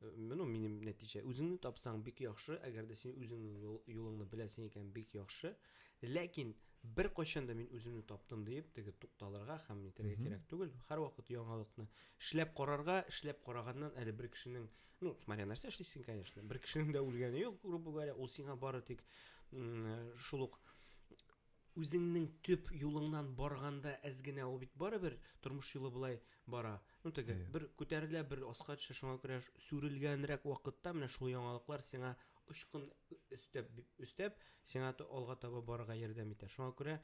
Менә минем нәтиҗә. Үзеңне тапсаң бик яхшы, әгәр дә син үзеңнең юлыңны беләсең икән, бик яхшы. Ләкин бер кайчан да мин үземне таптым диеп, теге тукталырга һәм нитәргә кирәк түгел. Һәрвакыт яңалыкны эшләп карарга, эшләп караганнан әле бер кешенең, ну, смотря нәрсә эшлисең, конечно. Бер кешенең дә үлгәне юк, грубо говоря, ул сиңа бары тик шул ук Үзеңнең төп юлыңнан барганда әз генә ул бит барыбер тормыш юлы болай бара. Ну теге yeah. бер күтәрелә, бер аска төшә, шуңа күрә сүрелгәнрәк вакытта менә шул яңалыклар сиңа очкын өстәп өстәп сиңа алга таба барырга ярдәм итә. Шуңа күрә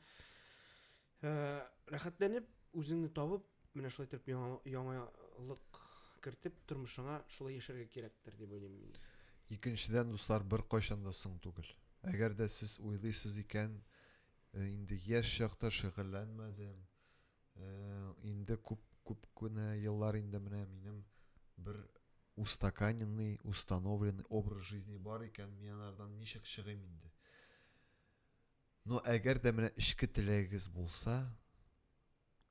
э, рәхәтләнеп үзеңне табып Менә шулай итеп яңа яңалык кертеп тормышыңа шулай яшәргә кирәктер дип уйлыйм мин. Икенчедән, дуслар беркайчан да соң түгел. Әгәр дә сез уйлыйсыз икән, э, инде яшь чакта шөгыльләнмәдем, э, инде күп күп кенә еллар инде менә минем бер устаканенный, установленный образ жизни бар икән, мин анардан ничек чыгыйм инде? Но әгәр дә менә эчке теләгегез булса,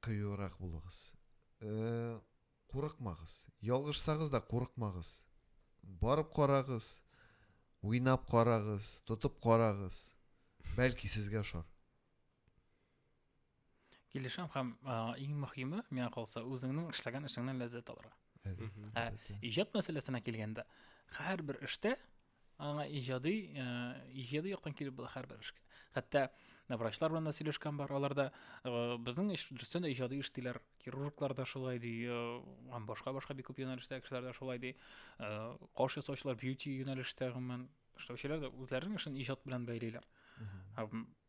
Кыюрак булыгыз. Курыкмагыз. Ялгышсагыз да курыкмагыз. Барып карагыз. Уйнап карагыз, тотып карагыз. Бәлки сезгә ошар. Килешәм һәм иң мөһиме, миңа калса, үзеңнең эшләгән эшеңнән ләззәт алырга. Ә иҗат мәсьәләсенә килгәндә, һәрбер эштә аңа иҗади э, иҗади яктан килеп була һәрбер эшкә. Хәтта э, врачлар белән дә сөйләшкән бар. Алар да э, безнең эш дөрестән дә иҗади эш диләр. Хирурглар да шулай ди, һәм башка-башка бик күп юнәлештә кешеләр дә шулай ди. Каш ясаучылар бьюти юнәлештә гомумән эшләүчеләр дә үзләренең эшен иҗат белән бәйлиләр.